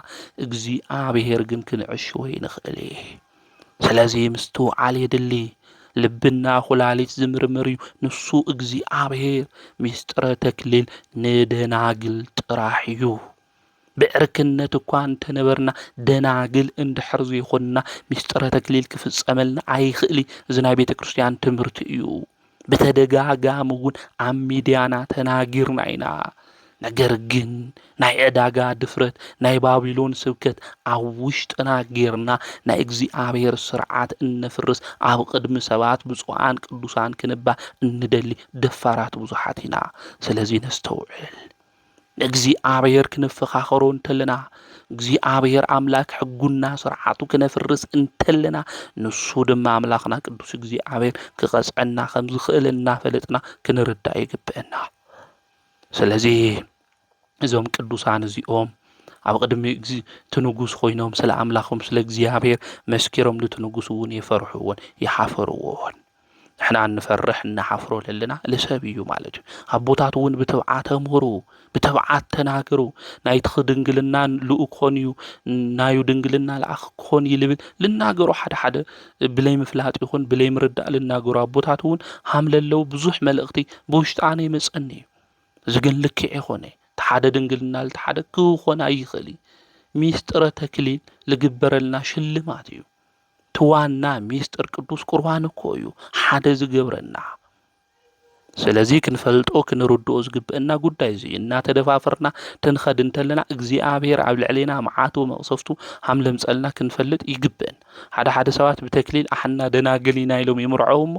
እግዚኣብሔር ግን ክንዕሽዎ ይንኽእል ስለዚ ምስትውዓል የድሊ ልብና ኩላሊት ዝምርምር እዩ ንሱ እግዚኣብሔር ሚስጥረ ተክሊል ንደናግል ጥራሕ እዩ ብዕርክነት እኳ እንተ ነበርና፣ ደናግል እንድሕር ዘይኮንና፣ ምሥጢረ ተክሊል ኪፍጸመልና ኣይክእሊ እዚ ናይ ቤተ ክርስቲያን ትምህርቲ እዩ። ብተደጋጋሚ እውን ኣብ ሚዲያና ተናጊርና ኢና። ነገር ግን ናይ ዕዳጋ ድፍረት ናይ ባቢሎን ስብከት ኣብ ውሽጥና ጌርና ናይ እግዚኣብሔር ስርዓት እነፍርስ ኣብ ቅድሚ ሰባት ብፁዓን ቅዱሳን ክንባል እንደሊ ደፋራት ብዙሓት ኢና። ስለዚ ነስተውዕል። ንእግዚኣብሔር ክንፈኻኸሮ እንተለና፣ እግዚኣብሔር ኣምላክ ሕጉና ስርዓቱ ክነፍርስ እንተለና፣ ንሱ ድማ ኣምላኽና ቅዱስ እግዚኣብሔር ክቐጽዐና ከም ዝኽእል እናፈለጥና ክንርዳእ ይግብእና። ስለዚ እዞም ቅዱሳን እዚኦም ኣብ ቅድሚ እቲ ንጉስ ኮይኖም ስለ ኣምላኾም ስለ እግዚኣብሔር መስኪሮም ንቲ ንጉስ እውን የፈርሕዎን ይሓፈርዎን። ንሕና እንፈርሕ እንሓፍሮ ለለና ልሰብ እዩ ማለት እዩ ኣቦታት እውን ብትብዓት ኣምህሩ ብትብዓት ተናገሩ ናይቲ ድንግልና ልኡ ክኾን እዩ ናዩ ድንግልና ልኣኽ ክኾን እዩ ልብል ልናገሩ ሓደ ሓደ ብለይ ምፍላጥ ይኹን ብለይ ምርዳእ ልናገሩ ኣቦታት እውን ሃም ለለው ብዙሕ መልእኽቲ ብውሽጣነ ይመፀኒ እዩ እዚ ግን ልክዕ ይኾነ እቲ ሓደ ድንግልና ልቲ ሓደ ክኾን ኣይኽእል እዩ ሚስጥረ ተክሊል ልግበረልና ሽልማት እዩ እቲ ዋና ሚስጥር ቅዱስ ቁርባን እኮ እዩ ሓደ ዝገብረና። ስለዚ ክንፈልጦ ክንርድኦ ዝግብእና ጉዳይ እዚ እናተደፋፈርና ትንኸድ እንተለና እግዚኣብሔር ኣብ ልዕሌና መዓቱ መቕሰፍቱ ሃምለምፀልና ክንፈልጥ ይግብእን። ሓደ ሓደ ሰባት ብተክሊል ኣሕና ደናግል ኢና ኢሎም ይምርዐው እሞ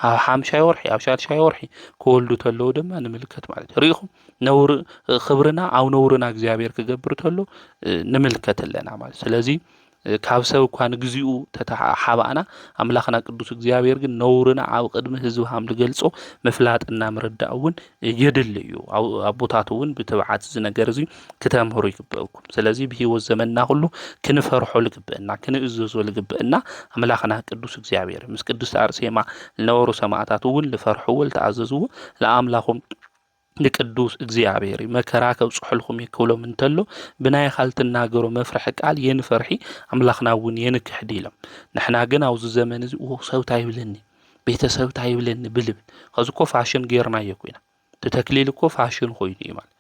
ኣብ ሓምሻይ ወርሒ ኣብ ሻድሻይ ወርሒ ክወልዱ ተለዉ ድማ ንምልከት ማለት እዩ። ርኢኹም ነውር ክብርና ኣብ ነውርና እግዚኣብሔር ክገብር ተሎ ንምልከት ኣለና ማለት ስለዚ ካብ ሰብ እኳ ንግዚኡ ተተሓባእና ኣምላኽና ቅዱስ እግዚኣብሔር ግን ነውርና ኣብ ቕድሚ ህዝቢ ሃም ልገልጾ ምፍላጥና ምርዳእ እውን የድሊ እዩ። ኣቦታት እውን ብትብዓት እዚ ነገር እዚ ክተምህሩ ይግበእኩም። ስለዚ ብህይወት ዘመንና ኩሉ ክንፈርሖ ልግበእና ክንእዘዞ ልግበእና ኣምላኽና ቅዱስ እግዚኣብሔር ምስ ቅድስቲ ኣርሴማ ልነበሩ ሰማእታት እውን ልፈርሕዎ ልተኣዘዝዎ ለኣምላኹም ንቅዱስ እግዚኣብሔር እዩ መከራ ከብፅሑልኩም እዩ ክብሎም እንተሎ ብናይ ኻል ትናገሮ መፍርሒ ቃል የንፈርሒ ኣምላኽና እውን የንክሕዲ ኢሎም ንሕና ግን ኣብዚ ዘመን እዚ ሰብታ ይብለኒ ቤተሰብታ ይብለኒ ብልብ ከዚ እኮ ፋሽን ጌርና እዮ ኮይና ተተክሊል እኮ ፋሽን ኮይኑ እዩ ማለት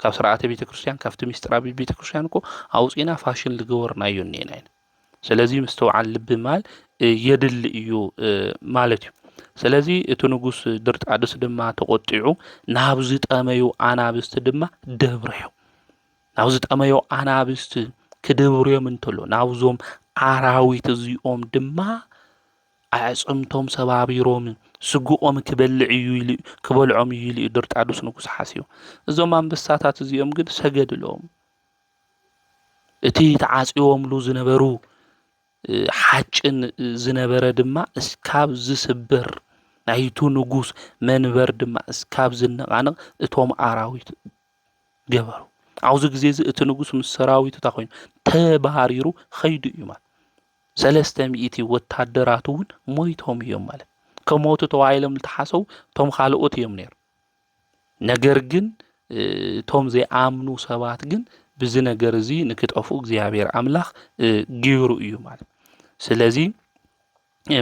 ካብ ስርዓተ ቤተ ክርስትያን ካብቲ ምስጢራ ቤተ ክርስትያን እኮ ኣውፂና ፋሽን ዝገበርና እዮ እኒኤና ኢና ስለዚ ምስትውዓል ልቢ ማል የድሊ እዩ ማለት እዩ ስለዚ እቲ ንጉስ ድርጣድስ ድማ ተቖጢዑ ናብ ዝጠመዩ ኣናብስቲ ድማ ደብርዮ ናብ ዝጠመዮ ኣናብስቲ ክድብርዮም እንተሎ ናብዞም ኣራዊት እዚኦም ድማ ኣዕፅምቶም ሰባቢሮም ስጉቆም ክበልዕ እዩ ኢሉ ክበልዖም እዩ ኢሉ እዩ ድርጣዱስ ንጉስ ሓስዩ እዞም ኣንበሳታት እዚኦም ግን ሰገድሎም እቲ ተዓጽዮምሉ ዝነበሩ ሓጭን ዝነበረ ድማ እስካብ ዝስበር ናይቱ ንጉስ መንበር ድማ እስካብ ዝነቓነቕ እቶም ኣራዊት ገበሩ። ኣብዚ ግዜ እዚ እቲ ንጉስ ምስ ሰራዊቱ እንታይ ኮይኑ ተባሪሩ ኸይዱ እዩ ማለት ሰለስተ ሚእቲ ወታደራቱ እውን ሞይቶም እዮም ማለት ከሞቱ ተባሂሎም ዝተሓሰቡ እቶም ካልኦት እዮም ነይሮም። ነገር ግን እቶም ዘይኣምኑ ሰባት ግን ብዚ ነገር እዚ ንክጠፉ እግዚኣብሔር ኣምላኽ ግይሩ እዩ ማለት ስለዚ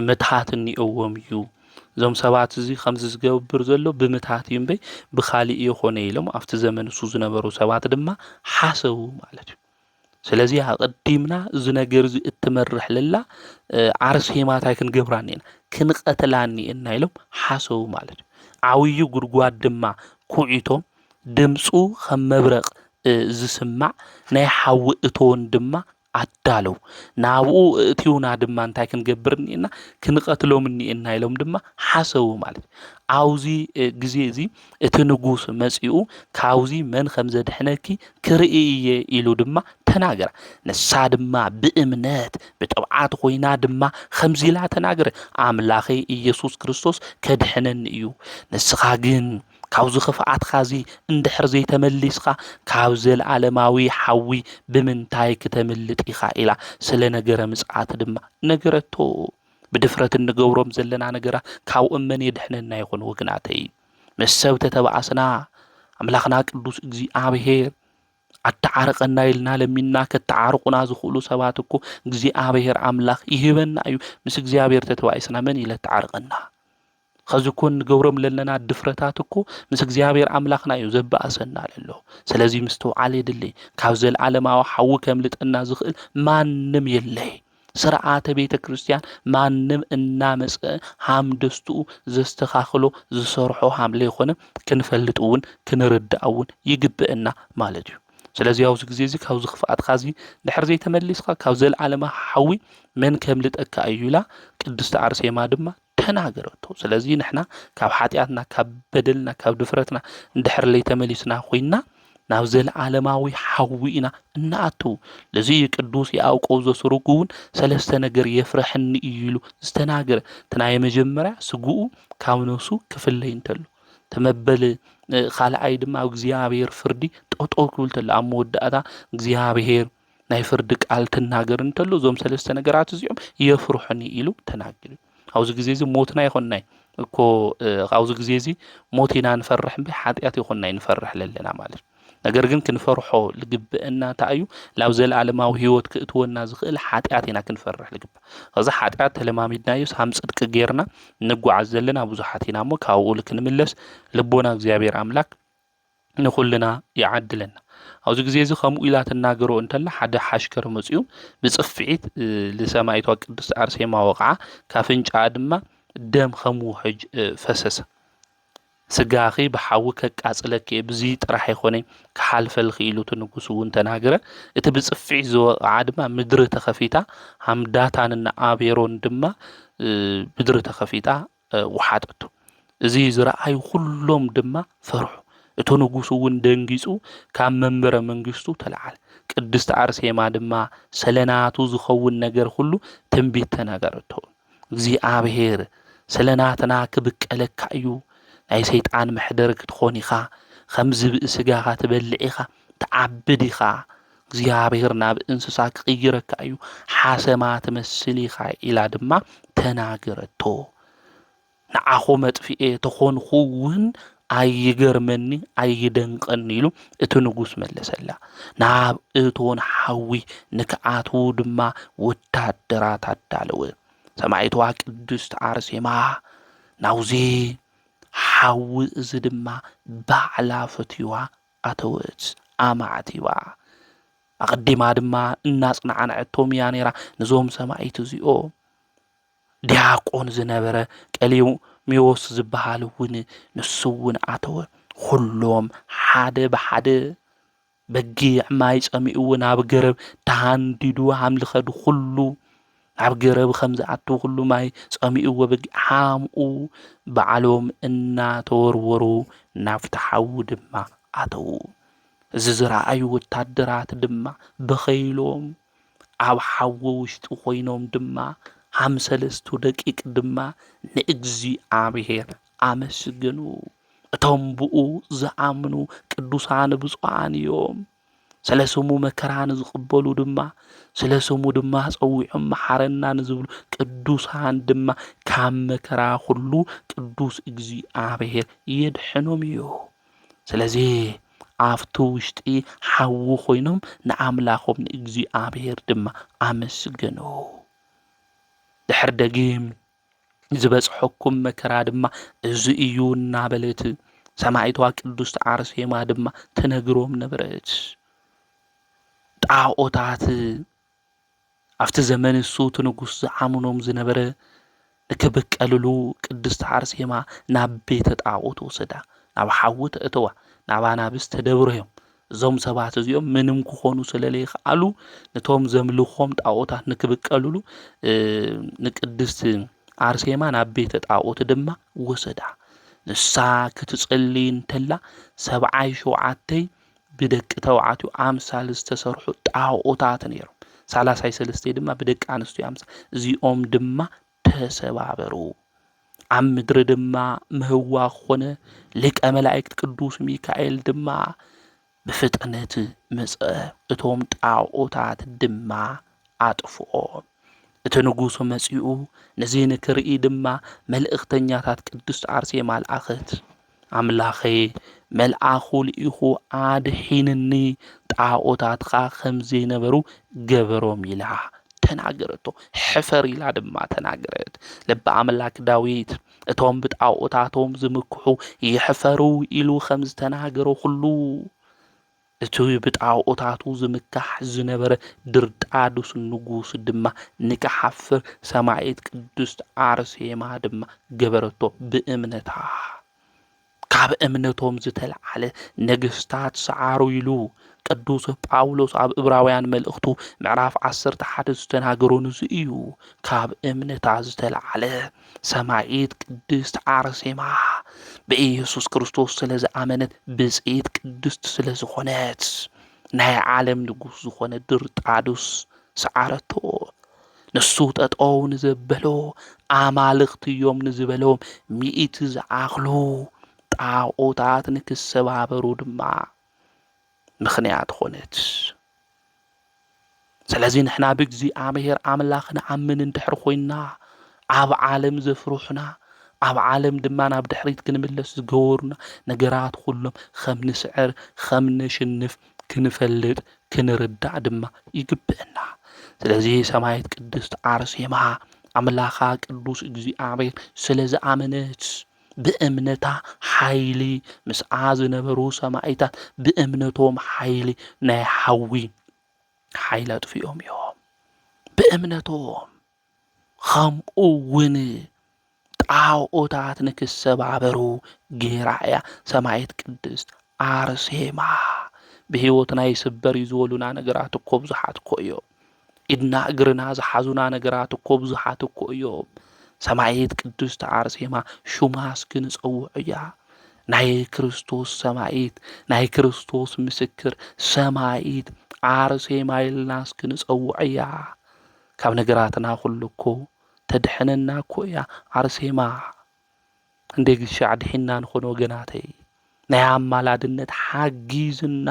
ምትሃት እኒኦዎም እዩ እዞም ሰባት እዚ ከምዚ ዝገብር ዘሎ ብምትሃት እዩ እምበይ ብካሊእ የኮነ ኢሎም ኣብቲ ዘመን ንሱ ዝነበሩ ሰባት ድማ ሓሰቡ ማለት እዩ ስለዚ ኣቐዲምና እዚ ነገር እዚ እትመርሕ ለላ ዓርሴማ እንታይ ክንገብራ እኒኤና ክንቐትላ እኒኤና ኢሎም ሓሰቡ ማለት እዩ ዓብዩ ጉድጓድ ድማ ኩዒቶም ድምፁ ከም መብረቕ ዝስማዕ ናይ ሓዊ እቶን ድማ ኣዳለው ናብኡ እእትውና ድማ እንታይ ክንገብር እኒኤና ክንቐትሎም እኒኤና ኢሎም ድማ ሓሰቡ ማለት እዩ ኣብዚ ግዜ እዚ እቲ ንጉስ መጺኡ ካብዚ መን ከም ዘድሕነኪ ክርኢ እየ ኢሉ ድማ ተናገራ። ንሳ ድማ ብእምነት ብጥብዓት ኮይና ድማ ከምዚ ኢላ ተናገረ፣ ኣምላኸይ ኢየሱስ ክርስቶስ ከድሕነኒ እዩ። ንስኻ ግን ካብዚ ክፍኣትካ እዚ እንድሕር ዘይተመሊስካ ካብ ዘለኣለማዊ ሓዊ ብምንታይ ክተምልጥ ኢኻ ኢላ ስለ ነገረ ምጽኣት ድማ ነገረቶ። ብድፍረት እንገብሮም ዘለና ነገራ ካብኦም መን የድሕነና ይኾን ወግናተይ? ምስ ሰብ ተተባኣስና ኣምላኽና ቅዱስ እግዚኣብሔር ኣተዓርቀና ኢልና ለሚንና ከተዓርቁና ዝኽእሉ ሰባት እኮ እግዚኣብሔር ኣምላኽ ይህበና እዩ። ምስ እግዚኣብሔር ተተባኢስና መን ኢለ ተዓርቀና? ኸዚ እኮ እንገብሮም ለለና ድፍረታት እኮ ምስ እግዚኣብሔር ኣምላኽና እዩ ዘበኣሰና ለሎ። ስለዚ ምስትውዓል የድሊ። ካብ ዘለዓለማዊ ሓዊ ከምልጠና ዝኽእል ማንም የለይ። ስርዓተ ቤተ ክርስቲያን ማንም እናመፀ ሃም ደስትኡ ዘስተኻኽሎ ዝሰርሖ ሃም ለይኾነ ክንፈልጥ እውን ክንርዳእ እውን ይግበእና ማለት እዩ። ስለዚ ኣብዚ ግዜ እዚ ካብዚ ክፍኣትካ እዚ ድሕር ዘይተመሊስካ ካብ ዘለዓለማ ሓዊ መን ከምልጠካ እዩ ኢላ ቅድስቲ ኣርሴማ ድማ ተናገረቶ ስለዚ ንሕና ካብ ሓጢኣትና ካብ በደልና ካብ ድፍረትና እንድሕር ለይተመሊስና ኮይና ናብ ዘለዓለማዊ ሓዊ ኢና እናኣትው ለዚ እዩ ቅዱስ የኣውቆብ ዘስሩግ እውን ሰለስተ ነገር የፍረሐኒ እዩ ኢሉ ዝተናገረ እቲ ናይ መጀመርያ ስግኡ ካብ ነሱ ክፍለይ እንተሎ ተመበል ካልኣይ ድማ ኣብ እግዚኣብሔር ፍርዲ ጠጠው ክብል ተሎ ኣብ መወዳእታ እግዚኣብሔር ናይ ፍርዲ ቃል ክናገር እንተሎ እዞም ሰለስተ ነገራት እዚኦም የፍርሑኒ ኢሉ ተናጊሩ ኣብዚ ግዜ እዚ ሞትና ይኾናይ እኮ ኣብዚ ግዜ እዚ ሞት ኢና ንፈርሕ እምበይ ሓጢኣት ይኾናይ ንፈርሕ ለለና ማለት ነገር ግን ክንፈርሖ ልግብአና እንታይ እዩ ናብ ዘለኣለማዊ ህይወት ክእትወና ዝኽእል ሓጢኣት ኢና ክንፈርሕ ልግባእ እዚ ሓጢኣት ተለማሚድናዮ ሳም ፅድቂ ጌርና ንጓዓዝ ዘለና ብዙሓት ኢና እሞ ካብኡ ክንምለስ ልቦና እግዚኣብሔር ኣምላክ ንኹልና ይዓድለና። ኣብዚ ግዜ እዚ ከምኡ ኢላ ትናገሮ እንተላ ሓደ ሓሽከር መጺኡ ብጽፍዒት ንሰማይቷ ቅድስት ኣርሴማ ወቕዓ፣ ካፍንጫኣ ድማ ደም ከም ውሕጅ ፈሰሰ። ስጋኺ ብሓዊ ከቃጽለኪ እየ ብዚ ጥራሕ ይኾነ ክሓልፈልኺ ኢሉ እቲ ንጉስ እውን ተናገረ እቲ ብጽፍዒት ዝወቕዓ ድማ ምድሪ ተኸፊታ ሃምዳታን እና ኣቤሮን ድማ ምድሪ ተኸፊታ ወሓጠቶ። እዚ ዝረኣዩ ዅሎም ድማ ፈርሑ። እቲ ንጉስ እውን ደንጊጹ ካብ መንበረ መንግስቱ ተለዓለ። ቅድስት ኣርሴማ ድማ ስለ ናቱ ዝኸውን ነገር ዅሉ ትንቢት ተናገረቶ። እግዚኣብሔር ስለ ናትና ክብቀለካ እዩ፣ ናይ ሰይጣን መሕደር ክትኾን ኢኻ፣ ኸም ዝብኢ ስጋኻ ትበልዕ ኢኻ፣ ትዓቢ ዲኻ? እግዚኣብሄር ናብ እንስሳ ክቕይረካ እዩ፣ ሓሰማ ትመስል ኢኻ ኢላ ድማ ተናገረቶ። ንዓኹ መጥፍኤ ተኾንኹ እውን ኣይገርመኒ ኣይደንቐኒ ኢሉ እቲ ንጉስ መለሰላ። ናብ እቶን ሓዊ ንክኣትዉ ድማ ወታደራት ኣዳለወ። ሰማዒትዋ ቅድስት ኣርሴማ ናውዚ ሓዊ እዚ ድማ ባዕላ ፈትዩዋ ኣተወት፣ ኣማዕቲባ። ኣቐዲማ ድማ እናጽናዕነዐቶም እያ ነይራ፣ ንዞም ሰማኢት እዚኦም። ዲያቆን ዝነበረ ቀሊው ሜዎስ ዝበሃል እውን ንሱ እውን ኣተወ ኹሎም ሓደ ብሓደ በጊዕ ማይ ጸሚኡዎ ናብ ገረብ ተሃንዲዱ ሃምልኸዱ ኹሉ ናብ ገረብ ኸም ዝኣቱ ዅሉ ማይ ጸሚእዎ ብግሓምኡ ባዕሎም እናተወርወሩ ናብቲ ሓዊ ድማ ኣተዉ። እዚ ዝረኣዩ ወታደራት ድማ በኸይሎም፣ ኣብ ሓዊ ውሽጢ ዀይኖም ድማ ሃም ሰለስቱ ደቂቅ ድማ ንእግዚኣብሄር ኣመስገኑ። እቶም ብእኡ ዝኣምኑ ቅዱሳን ብፁዓን እዮም። ስለ ስሙ መከራ ንዝቕበሉ ድማ ስለ ስሙ ድማ ጸዊዖም መሓረና ንዝብሉ ቅዱሳን ድማ ካብ መከራ ኩሉ ቅዱስ እግዚኣብሔር የድሕኖም እዩ። ስለዚ ኣብቲ ውሽጢ ሓዊ ኮይኖም ንኣምላኾም ንእግዚኣብሔር ድማ ኣመስገኑ። ድሕር ደጊም ዝበጽሐኩም መከራ ድማ እዚ እዩ እናበለት ሰማዒቷ ቅዱስት ኣርሴማ ድማ ተነግሮም ነበረት። ጣዖታት ኣብቲ ዘመን እሱ እቲ ንጉስ ዝዓምኖም ዝነበረ ንክብቀልሉ ቅድስት ኣርሴማ ናብ ቤተ ጣዖት ወሰዳ ናብ ሓዊ ተእተዋ ናብ ኣናብስ ተደብረዮም እዞም ሰባት እዚኦም ምንም ክኾኑ ስለለይክኣሉ ንቶም ዘምልኾም ጣኦታት ንክብቀልሉ ንቅድስቲ ኣርሴማ ናብ ቤተ ጣኦት ድማ ወሰዳ። ንሳ ክትጽልይ እንተላ ሰብዓይ ሸውዓተይ ብደቂ ተባዕትዮ ኣምሳል ዝተሰርሑ ጣኦታት ነይሮም። ሳላሳይ ሰለስተይ ድማ ብደቂ ኣንስትዮ ኣምሳል እዚኦም ድማ ተሰባበሩ። ኣብ ምድሪ ድማ ምህዋኽ ኾነ፣ ሊቀ መላእክት ቅዱስ ሚካኤል ድማ ብፍጥነት መጸ፣ እቶም ጣኦታት ድማ ኣጥፍኦም። እቲ ንጉሥ መጺኡ ነዚ ንክርኢ ድማ መልእኽተኛታት ቅድስት ኣርሴማ ለኣኸት። ኣምላኸይ መልኣኹ ልኢኹ ኣድሒንኒ፣ ጣዖታትኻ ኸም ዘይነበሩ ገበሮም ኢላ ተናገረቶ። ሕፈር ኢላ ድማ ተናገረት። ልቢ ኣምላክ ዳዊት እቶም ብጣዖታቶም ዝምክሑ ይሕፈሩ ኢሉ ኸም ዝተናገሮ ኹሉ እቲ ብጣኦታቱ ዝምካሕ ዝነበረ ድርጣዱስ ንጉስ ድማ ንኪሓፍር ሰማኢት ቅድስት ኣርሴማ ድማ ገበረቶ ብእምነታ። ካብ እምነቶም ዝተልዓለ ነገስታት ሰዓሩ ኢሉ ቅዱስ ጳውሎስ ኣብ እብራውያን መልእኽቱ ምዕራፍ ዓሰርተ ሓደ ዝተናገሮ ንዚ እዩ ካብ እምነታ ዝተልዓለ ሰማዒት ቅድስት ዓርሴማ ብኢየሱስ ክርስቶስ ስለ ዝኣመነት ብፅኢት ቅድስት ስለ ዝኾነት ናይ ዓለም ንጉስ ዝኾነ ድርጣዱስ ሰዓረቶ። ንሱ ጠጠው ንዘበሎ ኣማልኽቲ እዮም ንዝበሎም ሚእቲ ዝኣኽሉ ጣዖታት ንክሰባበሩ ድማ ምኽንያት ኾነት። ስለዚ ንሕና ብእግዚኣብሔር ኣምላኽ ንኣምን እንድሕር ኮይንና ኣብ ዓለም ዘፍርሑና ኣብ ዓለም ድማ ናብ ድሕሪት ክንምለስ ዝገበሩና ነገራት ኩሎም ከም ንስዕር ከም ነሽንፍ ክንፈልጥ ክንርዳእ ድማ ይግብአና። ስለዚ ሰማየት ቅድስት ኣርሴማ ኣምላኻ ቅዱስ እግዚኣብሔር ስለ ዝኣመነት ብእምነታ ሓይሊ ምስኣ ዝነበሩ ሰማኢታት ብእምነቶም ሓይሊ ናይ ሓዊ ሓይሊ ኣጥፊኦም እዮም ብእምነቶም ኸምኡ ውን ጣኦታት ንክሰባበሩ ጌራ እያ ሰማየት ቅድስት ኣርሴማ ብሂወትና ይስበር እዩ ዝበሉና ነገራት እኮ ብዙሓት እኮ እዮም። ኢድና እግርና ዝሓዙና ነገራት እኮ ብዙሓት እኮ እዮም። ሰማይት ቅድስቲ ኣርሴማ ሹማ እስኪ ንፀውዕ እያ። ናይ ክርስቶስ ሰማይት ናይ ክርስቶስ ምስክር ሰማይት ኣርሴማ ኢልና እስኪ ንፀውዕ እያ ካብ ነገራትና ኩሉ እኮ ተድሕነና እኮ እያ ኣርሴማ እንዴግሻ ኣድሒንና ንኾን ወገናተይ ናይ ኣማላድነት ሓጊዝና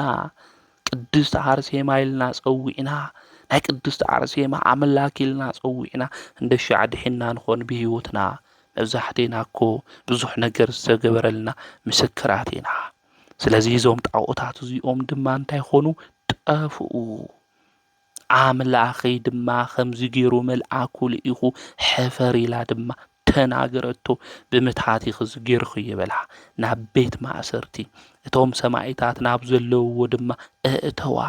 ቅድስቲ ኣርሴማ ኢልና ጸዊዕና ናይ ቅድስቲ ኣርሴማ ኣምላክ ኢልና ጸዊዕና እንደሻ ኣድሒንና ንኾን ብህይወትና መብዛሕቴና እኮ ብዙሕ ነገር ዝተገበረልና ምስክራት ኢና ስለዚ እዞም ጣዖታት እዚኦም ድማ እንታይ ኾኑ ጠፍኡ ኣምላኸይ ድማ ኸምዚ ገይሩ መልኣኩ ልኢኹ ሕፈር ኢላ ድማ ተናገረቶ። ብምትሃት ኢኺ ገይርኽዮ በላ። ናብ ቤት ማእሰርቲ እቶም ሰማኢታት ናብ ዘለውዎ ድማ እእተዋ።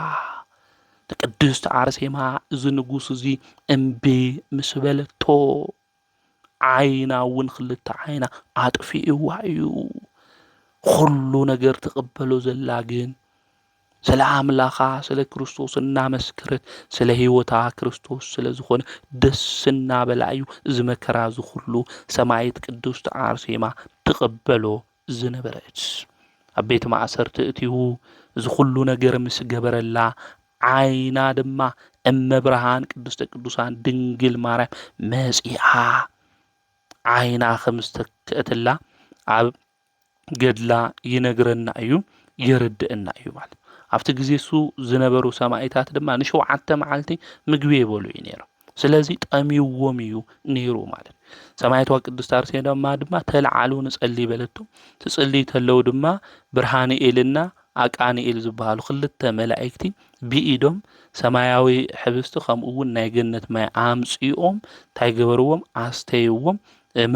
ንቅድስት ኣርሴማ እዚ ንጉስ እዚ እምቢ ምስ በለቶ ዓይና እውን ክልተ ዓይና ኣጥፊእዋ እዩ። ኹሉ ነገር ትቕበሎ ዘላ ግን ስለ ኣምላኻ ስለ ክርስቶስ እናመስከረት ስለ ህይወታ ክርስቶስ ስለ ዝኾነ ደስ እናበላ እዩ እዚ መከራ ዝኹሉ ሰማይት ቅድስት ኣርሴማ ትቕበሎ ዝነበረት። ኣብ ቤት ማእሰርቲ እትው እዚ ኩሉ ነገር ምስ ገበረላ ዓይና ድማ እመብርሃን ቅድስተ ቅዱሳን ድንግል ማርያም መጺኣ ዓይና ከም ዝተከእትላ ኣብ ገድላ ይነግረና እዩ የረድእና እዩ ማለት ኣብቲ ግዜ እሱ ዝነበሩ ሰማኢታት ድማ ንሸውዓተ መዓልቲ ምግቢ የበሉ እዩ ነይሮም ስለዚ ጠምዩዎም እዩ ነይሩ ማለት እዩ። ሰማያዊቷ ቅድስት ኣርሴማ ድማ ተልዓሉ ንጸሊ በለቶ። ትጽልይ ተለው ድማ ብርሃንኤልና ኣቃንኤል ዝበሃሉ ክልተ መላእክቲ ብኢዶም ሰማያዊ ሕብስቲ ከምኡ እውን ናይ ገነት ማይ ኣምጽኦም እንታይ ገበርዎም? ኣስተይዎም፣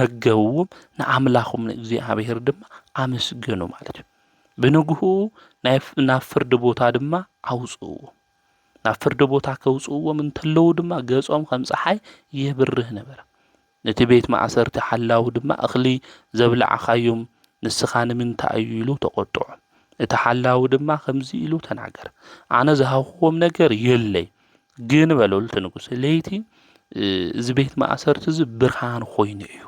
መገብዎም፣ ንኣምላኹም ንእግዚኣብሔር ድማ ኣመስገኑ ማለት እዩ። ብንግሁ ናብ ፍርዲ ቦታ ድማ ኣውጽእዎም። ናብ ፍርዲ ቦታ ከውጽእዎም እንተለዉ ድማ ገጾም ከም ጸሓይ የብርህ ነበረ። ነቲ ቤት ማእሰርቲ ሓላዊ ድማ እኽሊ ዘብላዕኻዮም ንስኻ ንምንታይ እዩ ኢሉ ተቖጥዖ። እቲ ሓላዊ ድማ ከምዚ ኢሉ ተናገረ፣ ኣነ ዝሃብኹዎም ነገር የለይ፣ ግን በሎ እቲ ንጉስ ለይቲ እዚ ቤት ማእሰርቲ እዚ ብርሃን ኮይኑ እዩ።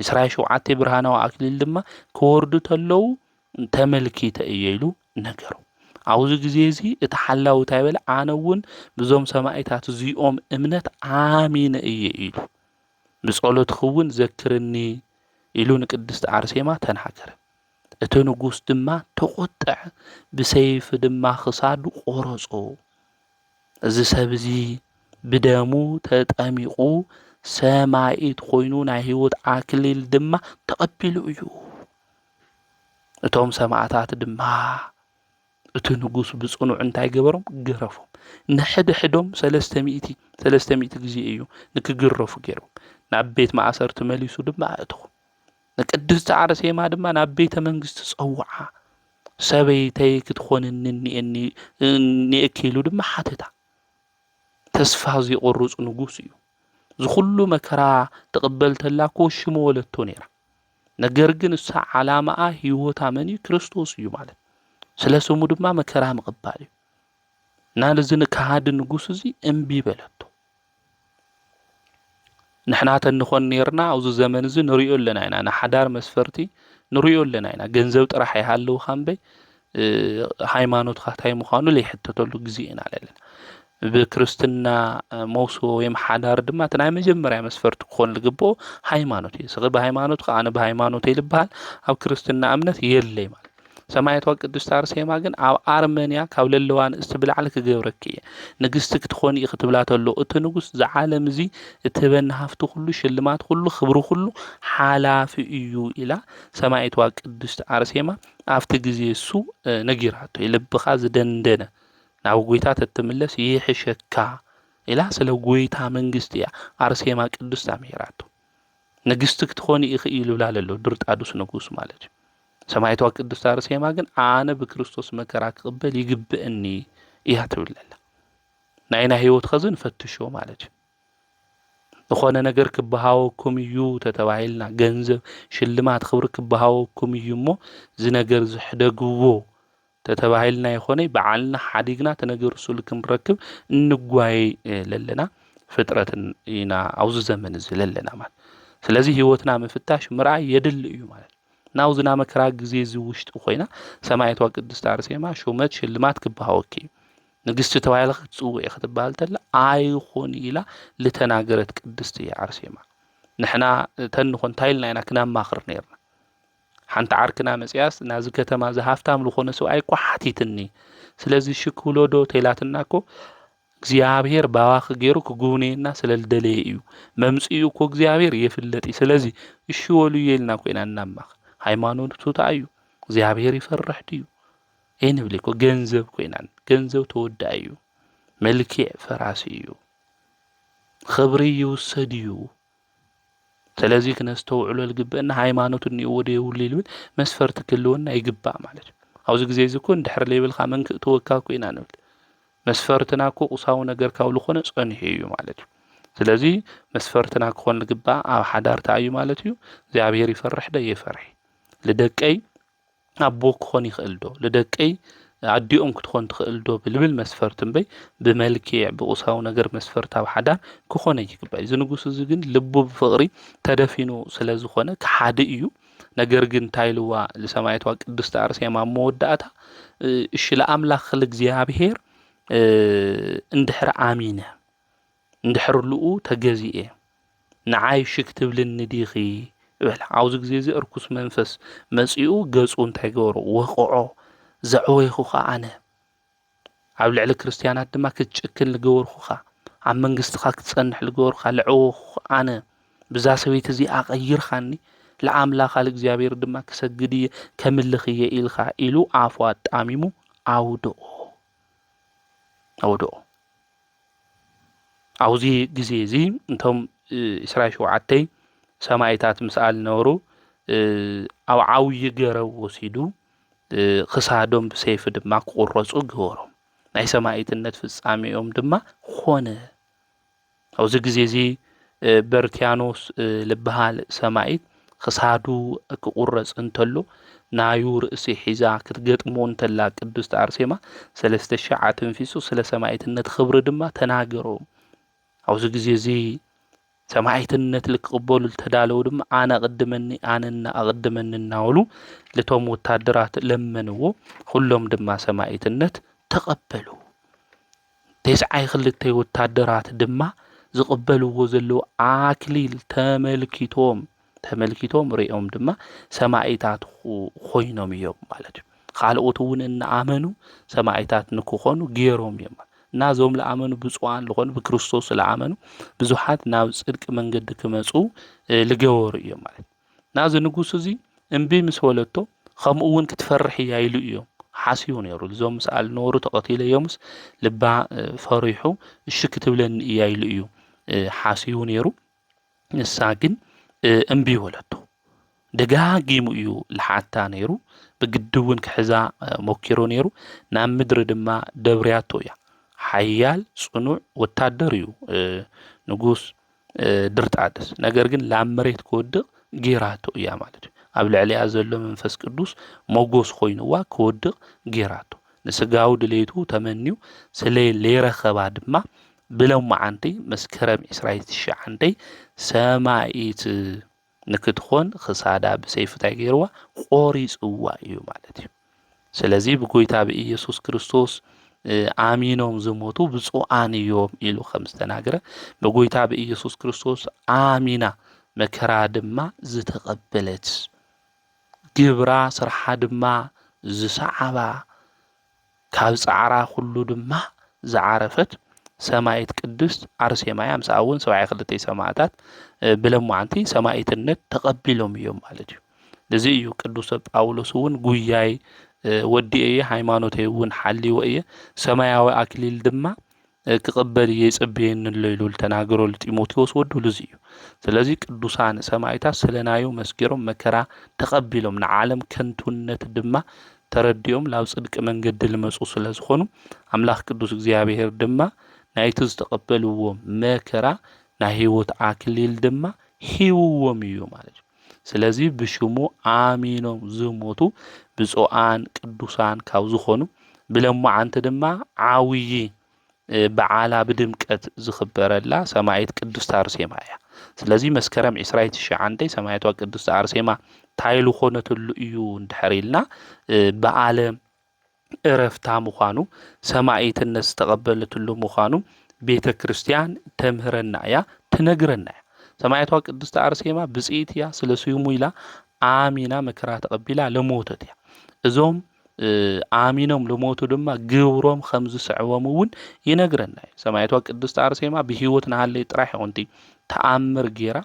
እስራኤል ሸውዓተ ብርሃናዊ ኣክሊል ድማ ክወርዱ ተለዉ ተመልኪተ እየ ኢሉ ነገሮ። ኣብዚ ግዜ እዚ እቲ ሓላዊ እንታይ በለ? ኣነ እውን ብዞም ሰማኢታት እዚኦም እምነት ኣሚነ እየ ኢሉ። ብጸሎትኺ እውን ዘክርኒ ኢሉ ንቅድስቲ ኣርሴማ ተናገረ። እቲ ንጉስ ድማ ተቖጠዐ፣ ብሰይፊ ድማ ክሳዱ ቆረጾ። እዚ ሰብ እዚ ብደሙ ተጠሚቑ ሰማኢት ኮይኑ ናይ ህይወት ኣክሊል ድማ ተቐቢሉ እዩ። እቶም ሰማእታት ድማ እቲ ንጉስ ብጽኑዕ እንታይ ገበሮም ገረፎም ንሕድሕዶም ሰለስተ ሚእቲ ሰለስተ ሚእቲ ግዜ እዩ ንክግረፉ ገይሮም ናብ ቤት ማእሰርቲ መሊሱ ድማ ኣእተዎም ንቅድስቲ ዓርሴማ ድማ ናብ ቤተ መንግስቲ ጸውዓ ሰበይተይ ክትኾንኒ እኒኤኒ እኒኤኪ ኢሉ ድማ ሓተታ ተስፋ ዘይቆርጽ ንጉስ እዩ ዝኹሉ መከራ ትቕበል ተላ እኮ ሽሙ ወለቶ ነይራ ነገር ግን እሳ ዓላማኣ ህይወታ መን እዩ ክርስቶስ እዩ ማለት ስለ ስሙ ድማ መከራ ምቕባል እዩ እና እዚ ንካሃዲ ንጉስ እዚ እምቢ በለቶ ንሕና ተንኾን ነርና ኣብዚ ዘመን እዚ ንሪኦ ኣለና ኢና ንሓዳር መስፈርቲ ንሪኦ ኣለና ኢና ገንዘብ ጥራሕ ይሃለውካ እምበይ ሃይማኖትካ እንታይ ምዃኑ ዘይሕተተሉ ግዜ ኢና ዘለና። ብክርስትና መውስቦ ወይ ሓዳር ድማ እቲ ናይ መጀመርያ መስፈርቲ ክኾን ዝግብኦ ሃይማኖት እዩ። ስኺ ብሃይማኖትካ ኣነ ብሃይማኖተይ ዝበሃል ኣብ ክርስትና እምነት የለይ ማለት ሰማያት ቅድስት ኣርሴማ ግን ኣብ ኣርመንያ ካብ ለለዋ ንእስቲ ብላዕሊ ክገብረኪ እየ ንግስቲ ክትኾኒ እዩ ክትብላ ተሎ እቲ ንጉስ ዝዓለም እዚ እትህበኒ ሃፍቲ ኩሉ ሽልማት ኩሉ ክብሪ ኩሉ ሓላፊ እዩ ኢላ ሰማይትዋ ቅድስት ኣርሴማ ኣብቲ ግዜ እሱ ነጊራቶ እዩ። ልብኻ ዝደንደነ ናብ ጎይታ ተትምለስ ይሕሸካ ኢላ ስለ ጎይታ መንግስቲ እያ ኣርሴማ ቅድስት ኣምሂራቶ። ንግስቲ ክትኾኒ ኢኺ እዩ ልብላ ለሎ ድርጣዱስ ንጉስ ማለት እዩ። ሰማይቷ ቅድስት ኣርሴማ ግን ኣነ ብክርስቶስ መከራ ክቕበል ይግብእኒ እያ ትብለላ። ናይና ህይወት ኸዚ ንፈትሾ ማለት እዩ። ዝኾነ ነገር ክበሃወኩም እዩ ተተባሂልና ገንዘብ ሽልማት ክብሪ ክበሃወኩም እዩ እሞ እዚ ነገር ዝሕደግዎ ተተባሂልና ይኾነይ ብዓልና ሓዲግና ተነገር ሱል ክንረክብ እንጓየ ለለና ፍጥረትን ኢና ኣብዚ ዘመን እዚ ለለና ማለት ስለዚ ህይወትና ምፍታሽ ምርኣይ የድሊ እዩ ማለት ናብዚ ናይ መከራ ግዜ እዚ ውሽጢ ኮይና ሰማይቷ ቅድስት ኣርሴማ ሹመት ሽልማት ክበሃወኪ እዩ ንግስቲ ተባሂላ ክትጽውዕ ክትበሃል ተላ ኣይኹን ኢላ ዝተናገረት ቅድስቲ እያ ኣርሴማ። ንሕና እተን ንኾን እንታይ ኢልና ኢና ክነማኽር ነርና? ሓንቲ ዓርክና መጽያስ ናዚ ከተማ እዚ ሃፍታም ዝኾነ ሰብኣይ እኮ ሓቲትኒ ስለዚ እሺ ክብሎ ዶ ተይላትና እኮ እግዚኣብሔር ባባኺ ገይሩ ክጉብነየና ስለ ዝደለየ እዩ መምፅኡ እኮ እግዚኣብሔር የፍለጥ እዩ ስለዚ እሺ ወሉ የልና ኮይና እናማኽ ሃይማኖቱ ተኣዩ እግዚኣብሔር ይፈርሕ ድዩ ኣይንብልን እኮ ገንዘብ ኮይናን ገንዘብ ተወዳኢ እዩ መልኪዕ ፈራሲ እዩ ኽብሪ ይውሰድ እዩ ስለዚ ክነስተውዕሎ ዝግበአና ሃይማኖት እኒኦዎ ዶ የብሉ ይብል መስፈርቲ ክህልወና ይግባእ ማለት እዩ ኣብዚ ግዜ እዚ እኮ እንድሕር ዘይብልካ መን ክእትወካ እኮ ኢና ንብል መስፈርትና እኮ ቁሳዊ ነገር ካብ ዝኾነ ጸኒሑ እዩ ማለት እዩ ስለዚ መስፈርትና ክኾን ዝግባእ ኣብ ሓዳር እንታይ እዩ ማለት እዩ እግዚኣብሔር ይፈርሕ ዶ የፈርሕ ልደቀይ ኣቦ ክኾን ይኽእል ዶ? ልደቀይ ኣዲኦም ክትኾን ትኽእል ዶ? ብልብል መስፈርት እምበይ ብመልኪዕ ብቑሳዊ ነገር መስፈርት ኣብ ሓዳር ክኾነ ኣይግባእዩ። እዚ ንጉስ እዚ ግን ልቡ ብፍቕሪ ተደፊኑ ስለ ዝኾነ ክሓዲ እዩ። ነገር ግን እንታይ ኢልዋ ልሰማይቷ ቅድስቲ ኣርሴማ ኣብ መወዳእታ እሺ ለኣምላኽ ልእግዚኣብሔር እንድሕር ኣሚነ እንድሕርሉኡ ተገዚኤ ንዓይ ሽክ ትብልኒ ዲኺ በላ ኣብዚ ግዜ እዚ እርኩስ መንፈስ መጺኡ ገጹ እንታይ ገበሮ ወቕዖ ዘዕወይኹኻ ኣነ ኣብ ልዕሊ ክርስትያናት ድማ ክትጭክን ዝገበርኹኻ ኣብ መንግስትኻ ክትጸንሕ ዝገበርካ ልዕወኹኻ ኣነ ብዛ ሰበይቲ እዚ ኣቐይርካኒ ለኣምላኻ እግዚኣብሔር ድማ ክሰግድ እየ ከምልኽ እየ ኢልካ ኢሉ ኣፉ ኣጣሚሙ ኣውድኦ ኣውድኦ ኣብዚ ግዜ እዚ እቶም ዕስራ ሸውዓተ ሰማኢታት ምስኣል ዝነበሩ ኣብ ዓብዪ ገረብ ወሲዱ ኽሳዶም ብሰይፊ ድማ ክቑረፁ ገበሮም። ናይ ሰማኢትነት ፍፃሜኦም ድማ ኾነ። ኣብዚ ግዜ እዚ በርትያኖስ ዝበሃል ሰማኢት ክሳዱ ክቑረጽ እንተሎ ናዩ ርእሲ ሒዛ ክትገጥሞ እንተላ ቅድስት ኣርሴማ ሰለስተ ሽሕ ኣተንፊሱ ስለ ሰማኢትነት ኽብሪ ድማ ተናገሮ ኣብዚ ግዜ እዚ ሰማኢትነት ልክቕበሉ ልተዳለዉ ድማ ኣነ ኣቕድመኒ ኣነ እና ኣቕድመኒ እናበሉ ልቶም ወታደራት ለመንዎ ኹሎም ድማ ሰማኢትነት ተቐበሉ። ቴስዓይ ክልተ ወታደራት ድማ ዝቕበልዎ ዘለዉ ኣክሊል ተመልኪቶም ተመልኪቶም ሪኦም ድማ ሰማኢታት ኮይኖም እዮም ማለት እዩ ካልኦት እውን እናኣመኑ ሰማኢታት ንክኾኑ ገይሮም እዮም እና እዞም ዝኣመኑ ብፁዓን ዝኾኑ ብክርስቶስ ዝኣመኑ ብዙሓት ናብ ፅድቂ መንገዲ ክመፁ ዝገበሩ እዮም ማለት እዩ ናዚ ንጉስ እዚ እምቢ ምስ በለቶ ከምኡ እውን ክትፈርሕ እያ ኢሉ እዮም ሓሲቡ ነይሩ እዞም ምስኣ ዝነበሩ ተቐቲለዮምስ ልባ ፈሪሑ እሺ ክትብለኒ እያ ኢሉ እዩ ሓሲቡ ነይሩ ንሳ ግን እምቢ በለቶ ደጋጊሙ እዩ ልሓታ ነይሩ ብግዲ እውን ክሕዛ ሞኪሩ ነይሩ ናብ ምድሪ ድማ ደብርያቶ እያ ሓያል ፅኑዕ ወታደር እዩ ንጉስ ድርጣድስ ነገር ግን ላብ መሬት ክወድቕ ጌራቶ እያ ማለት እዩ ኣብ ልዕሊያ ዘሎ መንፈስ ቅዱስ ሞጎስ ኮይኑዋ ክወድቕ ጌራቶ ንስጋዊ ድሌቱ ተመንዩ ስለ ለይረኸባ ድማ ብሎም መዓንቲ መስከረም ዕስራይ ትሽዓንተይ ሰማይት ንክትኾን ኽሳዳ ብሰይፊ እንታይ ገይርዋ ቆሪፅዋ እዩ ማለት እዩ ስለዚ ብጎይታ ብኢየሱስ ክርስቶስ ኣሚኖም ዝሞቱ ብፁዓን እዮም ኢሉ ከም ዝተናገረ ብጎይታ ብኢየሱስ ክርስቶስ ኣሚና መከራ ድማ ዝተቐበለት ግብራ ስርሓ ድማ ዝሰዓባ ካብ ጻዕራ ኩሉ ድማ ዝዓረፈት ሰማኢት ቅድስት ኣርሴማያ ምስኣ እውን ሰብዓይ ክልተይ ሰማእታት ብለማዓንቲ ሰማኢትነት ተቐቢሎም እዮም ማለት እዩ። እዚ እዩ ቅዱሰ ጳውሎስ እውን ጉያይ ወዲኤ እየ ሃይማኖተይ እውን ሓልወ እየ ሰማያዊ ኣክሊል ድማ ክቕበል እየ ይጽበየኒ ኣሎ ኢሉ ልተናገሮ ልጢሞቴዎስ ወዱ ልዙይ እዩ። ስለዚ ቅዱሳን ሰማይታት ስለናዮ መስኪሮም መከራ ተቐቢሎም ንዓለም ከንቱነት ድማ ተረዲኦም ላብ ጽድቂ መንገዲ ልመጹ ስለ ዝኾኑ ኣምላኽ ቅዱስ እግዚኣብሔር ድማ ናይቲ ዝተቐበልዎ መከራ ናይ ሕይወት ኣክሊል ድማ ሂብዎም እዩ ማለት እዩ። ስለዚ ብሽሙ ኣሚኖም ዝሞቱ ብፁዓን ቅዱሳን ካብ ዝኾኑ ብለማዓንቲ ድማ ዓብዪ በዓላ ብድምቀት ዝኽበረላ ሰማዒት ቅድስት ኣርሴማ እያ። ስለዚ መስከረም ዕስራ ትሽዓንተ ሰማዕቷ ቅድስት ኣርሴማ ታይ ዝኾነትሉ እዩ እንድሕር ኢልና በዓለ ዕረፍታ ምዃኑ፣ ሰማኢትነት ዝተቐበለትሉ ምዃኑ ቤተ ክርስቲያን ተምህረና እያ፣ ትነግረና እያ። ሰማያቷ ቅድስቲ ኣርሴማ ብፅኢት እያ፣ ስለ ስሙ ኢላ ኣሚና መከራ ተቐቢላ ለሞተት እያ። እዞም ኣሚኖም ልሞቱ ድማ ግብሮም ከም ዝስዕቦም እውን ይነግረና እዩ ሰማይቷ ቅድስቲ ኣርሴማ ብሂወት ንሃለይ ጥራሕ ይኹንቲ ተኣምር ጌራ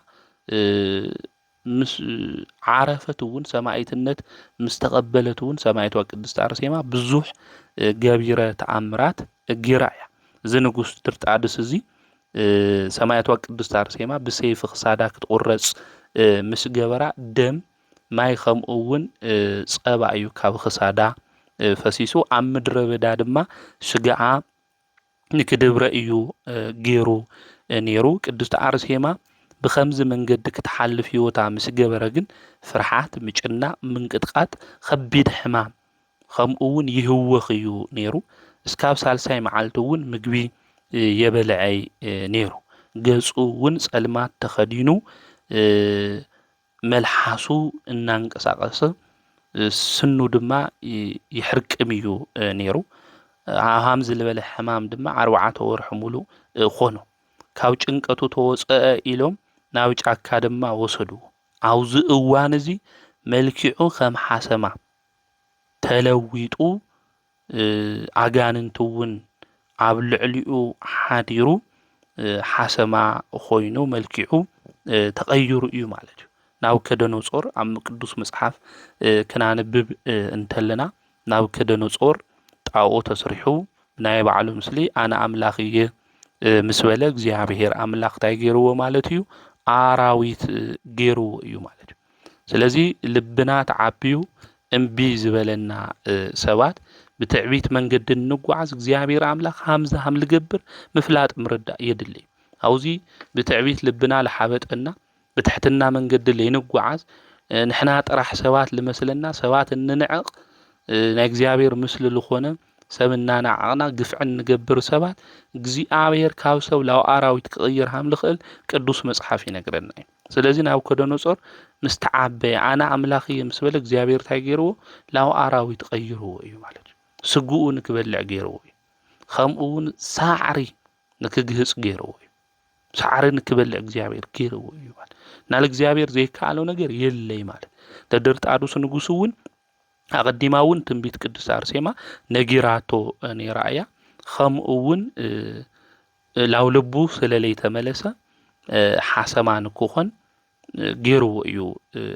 ምስ ዓረፈት እውን ሰማኢትነት ምስ ተቀበለት እውን ሰማኢቷ ቅድስት ኣርሴማ ብዙሕ ገቢረ ተኣምራት ጊራ እያ። እዚ ንጉስ ድርጣድስ እዚ ሰማያቷ ቅድስት ኣርሴማ ብሰይፊ ክሳዳ ክትቁረጽ ምስ ገበራ ደም ማይ ከምኡ እውን ጸባ እዩ ካብ ክሳዳ ፈሲሱ ኣብ ምድረ በዳ ድማ ሽግዓ ንክድብረ እዩ ገይሩ ነይሩ። ቅድስቲ ኣርሴማ ብኸምዚ መንገዲ ክትሓልፍ ህይወታ ምስ ገበረ ግን ፍርሓት፣ ምጭናቕ፣ ምንቅጥቓጥ፣ ኸቢድ ሕማም ኸምኡ ውን ይህወኽ እዩ ነይሩ። እስካብ ሳልሳይ መዓልቲ እውን ምግቢ የበልዐይ ነይሩ። ገጹ ውን ጸልማት ተኸዲኑ መልሓሱ እናንቀሳቐሰ ስኑ ድማ ይሕርቅም እዩ ነይሩ። ሃምዚ ዝበለ ሕማም ድማ ዓርባዓተ ወርሒ ሙሉእ ኾኖ። ካብ ጭንቀቱ ተወፀአ ኢሎም ናብ ጫካ ድማ ወሰድዎ። ኣብዚ እዋን እዚ መልኪዑ ከም ሓሰማ ተለዊጡ ኣጋንንቲ እውን ኣብ ልዕሊኡ ሓዲሩ ሓሰማ ኾይኑ መልኪዑ ተቐይሩ እዩ ማለት እዩ። ናብ ከደኖጾር ኣብ ቅዱስ መጽሓፍ ክናንብብ እንተለና ናብ ከደኖጾር ጣኦ ተስሪሑ ናይ ባዕሉ ምስሊ ኣነ ኣምላኽ እየ ምስ በለ እግዚኣብሔር ኣምላኽ እንታይ ገይርዎ ማለት እዩ ኣራዊት ገይርዎ እዩ ማለት እዩ። ስለዚ ልብና ተዓብዩ እምቢ ዝበለና ሰባት ብትዕቢት መንገዲ እንጓዓዝ እግዚኣብሔር ኣምላኽ ሃምዚ ሃም ልገብር ምፍላጥ ምርዳእ የድሊ ኣብዙ ብትዕቢት ልብና ልሓበጠና ብትሕትና መንገዲ ለይንጓዓዝ ንሕና ጥራሕ ሰባት ልመስለና ሰባት እንንዕቕ ናይ እግዚኣብሔር ምስሊ ልኾነ ሰብ እናናዓቕና ግፍዒ እንገብር ሰባት እግዚኣብሔር ካብ ሰብ ላብ ኣራዊት ክቕይር ሃም ልኽእል ቅዱስ መጽሓፍ ይነግረና እዩ ስለዚ ናቡከደነፆር ምስ ተዓበየ ኣነ ኣምላኽ እየ ምስ በለ እግዚኣብሔር እንታይ ገይርዎ ናብ ኣራዊት ቀይርዎ እዩ ማለት እዩ ስግኡ ንክበልዕ ገይርዎ እዩ ከምኡ እውን ሳዕሪ ንክግህፅ ገይርዎ እዩ ሳዕሪ ንክበልዕ እግዚኣብሔር ገይርዎ እዩ ማለት ናብ እግዚኣብሔር ዘይከኣለው ነገር የለይ ማለት ተደርጣዱስ ንጉስ እውን ኣቐዲማ እውን ትንቢት ቅድስት ኣርሴማ ነጊራቶ ነይራ እያ ከምኡ እውን ላው ልቡ ስለለይተመለሰ ሓሰማ ንክኾን ገይርዎ እዩ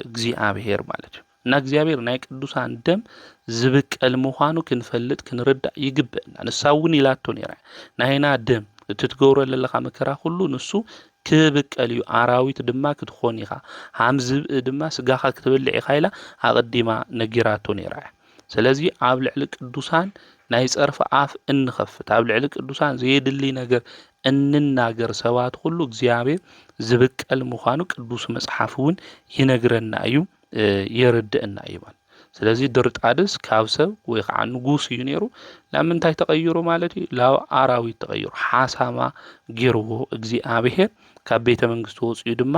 እግዚኣብሔር ማለት እዩ እና እግዚኣብሔር ናይ ቅዱሳን ደም ዝብቀል ምዃኑ ክንፈልጥ ክንርዳእ ይግብእና ንሳ እውን ኢላቶ ነይራ ናይና ደም እቲ ትገብሮ ዘለኻ መከራ ኩሉ ንሱ ክብቀል እዩ ኣራዊት ድማ ክትኾን ኢኻ ሃም ዝብኢ ድማ ስጋኻ ክትበልዕ ኢኻ ኢላ ኣቐዲማ ነጊራቶ ነይራ እያ ስለዚ ኣብ ልዕሊ ቅዱሳን ናይ ጸርፊ ኣፍ እንኸፍት፣ ኣብ ልዕሊ ቅዱሳን ዘየድሊ ነገር እንናገር ሰባት ኹሉ እግዚኣብሔር ዝብቀል ምዃኑ ቅዱስ መጽሓፍ እውን ይነግረና እዩ የረድእና እዩ ማለት ስለዚ ድርጣድስ ካብ ሰብ ወይ ከዓ ንጉስ እዩ ነይሩ ናብ ምንታይ ተቐይሩ ማለት እዩ ናብ ኣራዊት ተቐይሩ ሓሳማ ገይርዎ እግዚኣብሔር ካብ ቤተ መንግስቲ ወፅኡ ድማ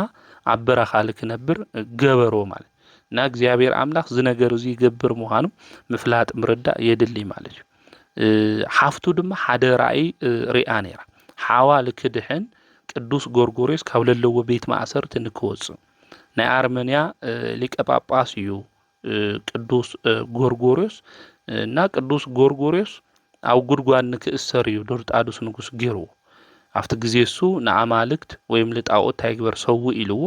ኣብ በረኻ ልክነብር ገበሮ ማለት እና እግዚኣብሔር ኣምላኽ ዝነገር እዙይ ይገብር ምዃኑ ምፍላጥ ምርዳእ የድልይ ማለት እዩ ሓፍቱ ድማ ሓደ ራእይ ርኣ ነይራ ሓዋ ልክድሕን ቅዱስ ጎርጎርዮስ ካብ ለለዎ ቤት ማእሰርቲ ንክወፅእ ናይ ኣርመንያ ሊቀ ጳጳስ እዩ ቅዱስ ጎርጎርዮስ እና ቅዱስ ጎርጎርዮስ ኣብ ጉድጓድ ንክእሰር እዩ ዶርጣዱስ ንጉስ ጌርዎ ኣብቲ ግዜ እሱ ንኣማልክት ወይም ልጣኦት እንታይ ግበር ሰውእ ኢልዎ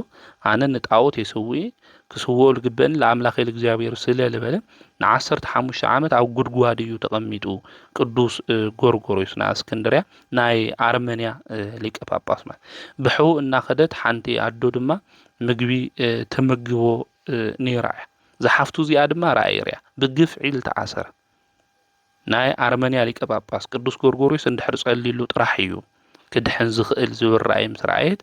ኣነ ንጣኦት የሰውእ እየ ክስውኦ ልግበእኒ ለኣምላኸይ ልእግዚኣብሔር ስለ ልበለ ንዓሰርተ ሓሙሽተ ዓመት ኣብ ጉድጓድ እዩ ተቐሚጡ ቅዱስ ጎርጎርዮስ ናይ እስክንድርያ ናይ ኣርመንያ ሊቀ ጳጳስ ማለት ብሕው እናኸደት ሓንቲ ኣዶ ድማ ምግቢ ተመግቦ ነይራ እያ ዝሓፍቱ እዚኣ ድማ ራእይ ርያ ብግፍዒ ልተኣሰረ ናይ ኣርመንያ ሊቀ ጳጳስ ቅዱስ ጎርጎርዮስ እንድሕር ጸልዩሉ ጥራሕ እዩ ክድሕን ዝኽእል ዝብል ራእይ ምስ ረኣየት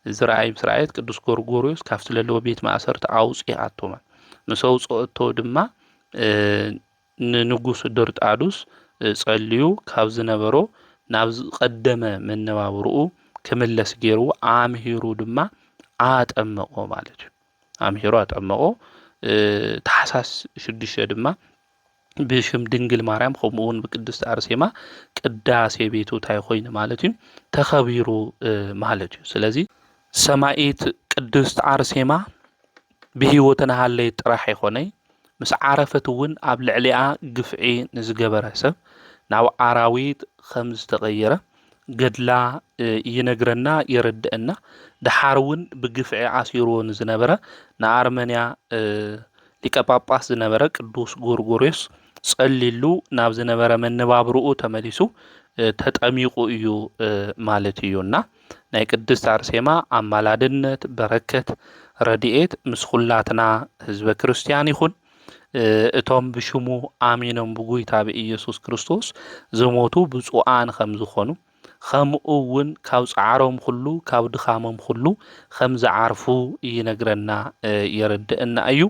እዚ ራእይ ምስ ረኣየት ቅዱስ ጎርጎርዮስ ካብቲ ለለዎ ቤት ማእሰርቲ ኣውጽኣቶማ ምስ ኣውጽኦቶ ድማ ንንጉስ ድርጣዱስ ጸልዩ ካብ ዝነበሮ ናብ ዝቀደመ መነባብርኡ ክምለስ ገይርዎ ኣምሂሩ ድማ ኣጠመቆ ማለት እዩ። ኣምሒሩ ኣጠመቖ። ታሕሳስ ሽዱሽተ ድማ ብሽም ድንግል ማርያም ከምኡ እውን ብቅድስቲ ኣርሴማ ቅዳሴ ቤቱ እንታይ ኮይኑ ማለት እዩ ተኸቢሩ ማለት እዩ። ስለዚ ሰማኢት ቅድስት ዓርሴማ ብህይወት ናሃለይ ጥራሕ ይኾነይ ምስ ዓረፈት እውን ኣብ ልዕሊኣ ግፍዒ ንዝገበረ ሰብ ናብ ኣራዊት ከም ዝተቐየረ ገድላ ይነግረና የረደእና ደሓር እውን ብግፍዒ ኣሲርዎ ንዝነበረ ንኣርመንያ ሊቀ ጳጳስ ዝነበረ ቅዱስ ጎርጎርዮስ ጸሊሉ ናብ ዝነበረ መነባብርኡ ተመሊሱ ተጠሚቑ እዩ ማለት እዩ እና ናይ ቅድስት ኣርሴማ ኣማላድነት በረከት ረድኤት ምስ ኹላትና ህዝበ ክርስቲያን ይኹን። እቶም ብሽሙ ኣሚኖም ብጉይታ ብኢየሱስ ክርስቶስ ዝሞቱ ብፁዓን ኸም ዝኾኑ ኸምኡ እውን ካብ ጻዕሮም ኹሉ ካብ ድኻሞም ኹሉ ኸም ዝዓርፉ ይነግረና የረድእና እዩ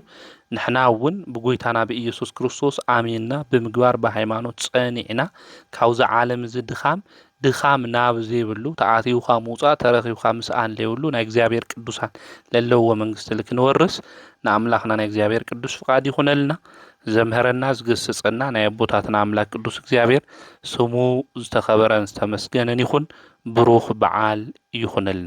ንሕና እውን ብጎይታና ብኢየሱስ ክርስቶስ ኣሚንና ብምግባር ብሃይማኖት ጸኒዕና ካብዚ ዓለም እዚ ድኻም ድኻም ናብ ዘይብሉ ተኣትዩካ ምውጻእ ተረኪብካ ምስኣን ለይብሉ ናይ እግዚኣብሔር ቅዱሳን ለለውዎ መንግስቲ ልክንወርስ ንኣምላክና ናይ እግዚኣብሔር ቅዱስ ፍቃድ ይኩነልና ዘምህረና ዝገስጸና ናይ ኣቦታትና ኣምላክ ቅዱስ እግዚኣብሔር ስሙ ዝተከበረን ዝተመስገንን ይኩን ብሩክ በዓል ይኩነልና።